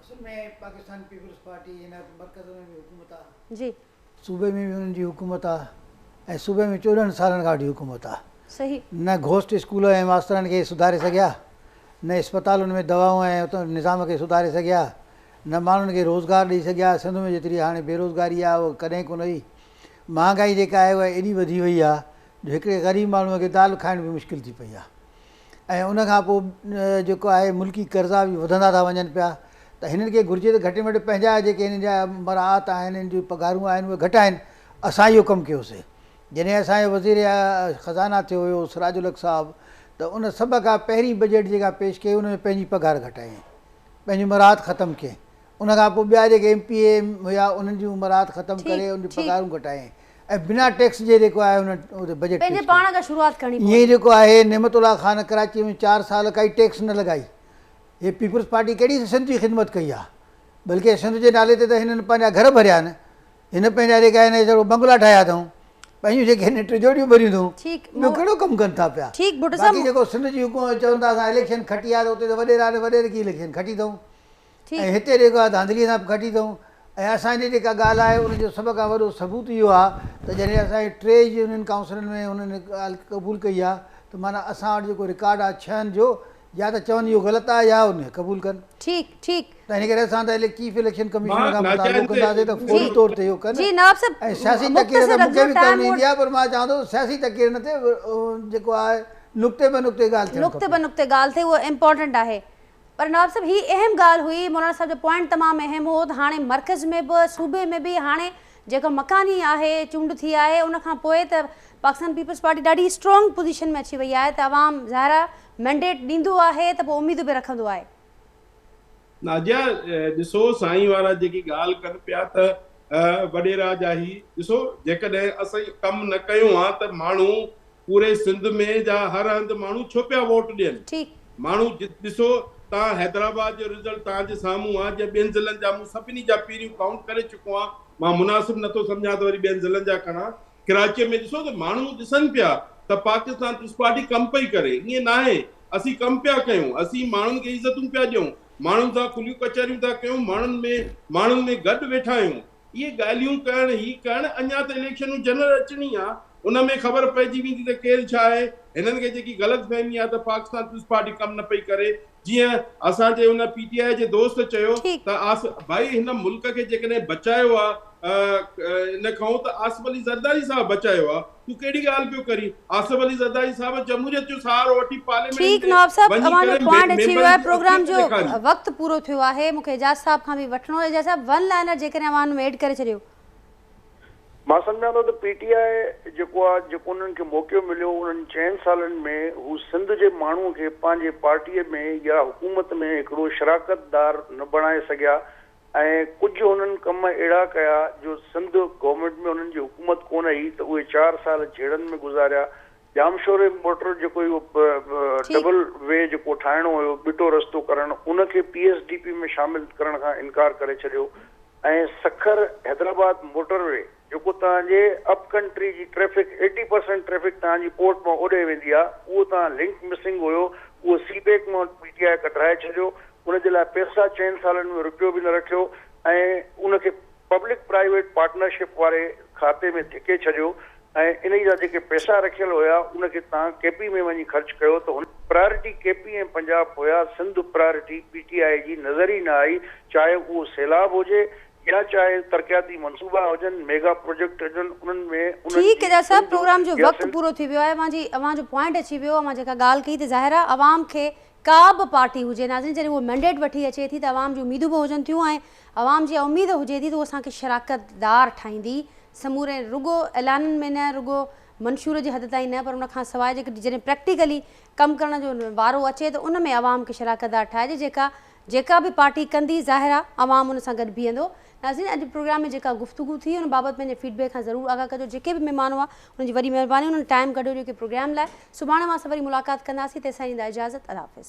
اصل ۾ پاڪستان پيپلز پارٽي هن وقت مرڪز ۾ به حڪومت آ. جي. صوبي ۾ به انهن جي حڪومت آ ۽ صوبي ۾ چوڏهن سالن کان وٺي حڪومت آ. صحيح. نه گهوسٽ اسڪول ۽ ماسترن کي سڌاري سگهيا، نه اسپتالن ۾ دوائون ۽ اتان نظام کي سڌاري سگهيا، نه ماڻهن کي روزگار ڏئي سگهيا، سنڌ ۾ جيتري هاڻي بيروزگاري آ اها ڪڏهن ڪونه هئي، مهانگائي جيڪا آهي اها ايڏي وڌي وئي آ جو هڪڙي غريب ماڻهوء کي دال کائڻ به مشڪل ٿي پئي آ. ۽ ان کان پوء جيڪو آهي ملڪي قرضا به وڌندا ٿا وڃن پيا ته هنن کي گهرجي ته گهٽ ۾ گهٽ پنهنجا جيڪي هنن جا مراعات آهن هنن جون پگهارون آهن اهي گهٽائين اسان اهو ڪم ڪيوسي جڏهن اسان جو وزير خزانه ٿيو هيو سراج الحق صاحب ته ان سڀ کان پهرين بجيٽ جيڪا پيش ڪئي ان ۾ پنهنجي پگهار گهٽايائين پنهنجي مراعات ختم ڪيائين ان کان پوء ٻيا جيڪي ايم پي اي هيا انهن جون مراعات ختم ڪري انهن جون پگهارون گهٽايائين ۽ بنا ٽيڪس جي جيڪو آهي ان تي بجيٽ پيش ڪيو. پنهنجي پاڻ کان شروعات ڪرڻي پوندي. ائين جيڪو آهي نعمت الله خان ڪراچيء ۾ چار سال ڪائي ٽيڪس نه لڳائي. هي پيپلز پارٽي ڪهڙي سنڌ جي خدمت ڪئي آهي. بلڪه سنڌ جي نالي تي ته هنن پنهنجا گهر ڀريا آهن. هن پنهنجا جيڪي آهن اهي سڀ بنگلا ٺاهيا اٿئون. پنهنجون جيڪي هنن ٽجوڙيون ڀريون اٿئون. ٻيو ڪهڙو ڪم ڪن ٿا پيا. باقي جيڪو سنڌ جي حڪومت چون ٿا اسان اليڪشن کٽي آهي ته اتي ته وڏيرا نه وڏير ڪي اليڪشن کٽي اٿئون. ۽ هتي ڏي ڪا ڌانڌليء سان به کٽي اٿئون ۽ اسان جي جيڪا ڳالهه آهي ان جو سڀ کان وڏو ثبوت اهو آهي ته جڏهن اسان جي ٽي يونين ڪائونسلن ۾ هنن هڪ ڳالهه قبول ڪئي آهي ته معنيٰ اسان وٽ جيڪو رڪارڊ آهي ڇهن جو يا ته چون اهو غلط آهي يا ان کي قبول ڪن ته ان ڪري اسان ته چيف اليڪشن ڪمشنر کان مطالبو ڪنداسين ته فوري طور تي اهو ڪن ۽ سياسي تقرير ته مون کي به ڪرڻي ايندي آهي پر مان چوان ٿو ته سياسي تقريرن تي جيڪو آهي نقطي بنقطي ڳالهه ٿيڻ کپي. پر نواب صاحب هي اهم ڳالهه هئي، مولانا صاحب جو پوائنٽ تمام اهم هو ته هاڻي مرڪز ۾ به صوبي ۾ به هاڻي جيڪا مڪاني آهي چونڊ ٿي آهي ان کان پوء ته پاڪستان پيپلز پارٽي ڏاڍي اسٽرانگ پوزيشن ۾ اچي وئي آهي ته عوام ظاهرا مينڊيٽ ڏيندو آهي ته پوء اميدون به رکندو آهي. نازيا ڏسو سائين وارا جيڪي ڳالهه ڪن پيا ته وڏيرا جا هي ڏسو جيڪڏهن اسين ڪم نه ڪيون ها ته ماڻهو پوري سنڌ ۾ جا هر هنڌ ماڻهو ڇو پيا ووٽ ڏين ٺيڪ. ماڻهو ڏسو تان حيدرآباد جو رزلٽ تان جي سامهون آ جي ٻين ضلعن جا مون سڀني جا پيريون ڪائونٽ ڪري چڪو آهان مان مناسب نٿو سمجهان ته وري ٻين ضلعن جا کڻان ڪراچي ۾ ڏسو ته ماڻهو ڏسن پيا ته پاڪستان پيپلز پارٽي ڪم پئي ڪري ائين ناهي اسين ڪم پيا ڪيون اسين ماڻهن کي عزتون پيا ڏيون ماڻهن سان کليون ڪچهريون ٿا ڪيون ماڻهن ۾ ماڻهن ۾ گڏ ويٺا آهيون. اهي ڳالهيون ڪرڻ هي ڪرڻ اڃا ته اليڪشنون جنرل اچڻي آ ان ۾ خبر پئجي ويندي ته ڪير ڇا آهي هنن کي جيڪي غلط فهمي آ ته پاڪستان پيپلز پارٽي ڪم نه پئي ڪري جيئن اسان جي ان پي ٽي آء جي دوست چيو ٺيڪ. ته آص ڀائي هن ملڪ کي جيڪڏهن بچايو آ ان کئون ته آصف علي زرداري صاحب بچايو آ تون ڪهڙي ڳالهه پيو ڪرين آصف علي زرداري صاحب جمهوريت جو سهارو وٺي پارليامينٽ ۾ ٺيڪ نواب صاحب اوهان جو پوائنٽ اچي ويو آهي پروگرام جو وقت پورو ٿيو آهي مونکي اعجاز صاحب کان به وٺڻو اعجاز صاحب ون لائنر جيڪڏهن اوهان ان ۾ ايڊ ڪري ڇڏيو مان سمجهان ٿو ته پي ٽي آء جيڪو آهي جيڪو انهن کي موقعو مليو انهن چئن سالن ۾ هو سنڌ جي ماڻهو کي پنهنجي پارٽي ۾ يا حڪومت ۾ هڪڙو شراڪت دار نه بڻائي سگهيا ۽ ڪجهه هنن ڪم اهڙا ڪيا جو سنڌ گورنمينٽ ۾ هنن جي حڪومت ڪونه هئي ته اهي چار سال جهيڙن ۾ گذاريا. ڄامشوري موٽر جيڪو اهو ٺيڪ. ڊبل وي جيڪو ٺاهڻو هيو ٻٽو رستو ڪرڻ ان کي پي ايس ڊي پي ۾ شامل ڪرڻ کان انڪار ڪري ڇڏيو ۽ سکر حيدرآباد موٽر وي جيڪو توهان جي اپ ڪنٽري جي ٽريفڪ ايٽي پرسينٽ ٽريفڪ توهان جي پورٽ مان اوڏي ويندي آ اهو توهان لنڪ مسنگ هيو اهو سي پيڪ مان پي ٽي آء ڪڍرائي ڇڏيو ان جي لاء پيسا چئن سالن ۾ رپيو به نه رکيو ۽ ان کي پبلڪ پرائيويٽ پارٽنرشپ واري کاتي ۾ ڌڪي ڇڏيو ۽ انهي جا جيڪي پيسا رکيل هيا ان کي توهان ڪي پي ۾ وڃي خرچ ڪيو ته هن پرائرٽي ڪي پي ۽ پنجاب هيا Sindh priority P T I جي نظر ئي نه آئي چاهي اهو سيلاب هجي يا چاهي ترقياتي منصوبا هجن، ميگا پروجيڪٽ هجن، انهن ۾ انهن جي ٺيڪ ڏس سنڌ پروگرام جو يا وقت سنڌ. پورو ٿي ويو آهي اوهان جي اوهان جو پوائنٽ اچي ويو اوهان جيڪا ڳالهه ڪئي ته ظاهر آهي عوام کي ڪا به پارٽي هجي ناظرين جڏهن هو مينڊيٽ وٺي اچي ٿي ته عوام جون اميدون به هجن ٿيون ۽ عوام جي اها اميد هجي ٿي ته هو اسان کي شراڪت دار ٺاهيندي سموري رڳو اعلانن ۾ نه رڳو منشور جي حد تائين نه پر ان کان سواء جيڪي جڏهن پريڪٽيڪلي ڪم ڪرڻ جو وارو اچي ته ان ۾ عوام کي شراڪت دار ٺاهجي جيڪا جيڪا به پارٽي ڪندي ظاهر آهي عوام ان سان گڏ بيهندو. ناظرين اڄ پروگرام ۾ جيڪا گفتگو ٿي ان بابت پنهنجي فيڊ بيڪ سان ضرور آگاهه ڪجو جيڪي به مهمان هئا انهن جي وڏي مهرباني انهن ٽائيم ڪڍيو جيڪي پروگرام لاء سڀاڻي اوهان سان وري ملاقات ڪنداسين تيسين ڏيندا اجازت الله حافظ.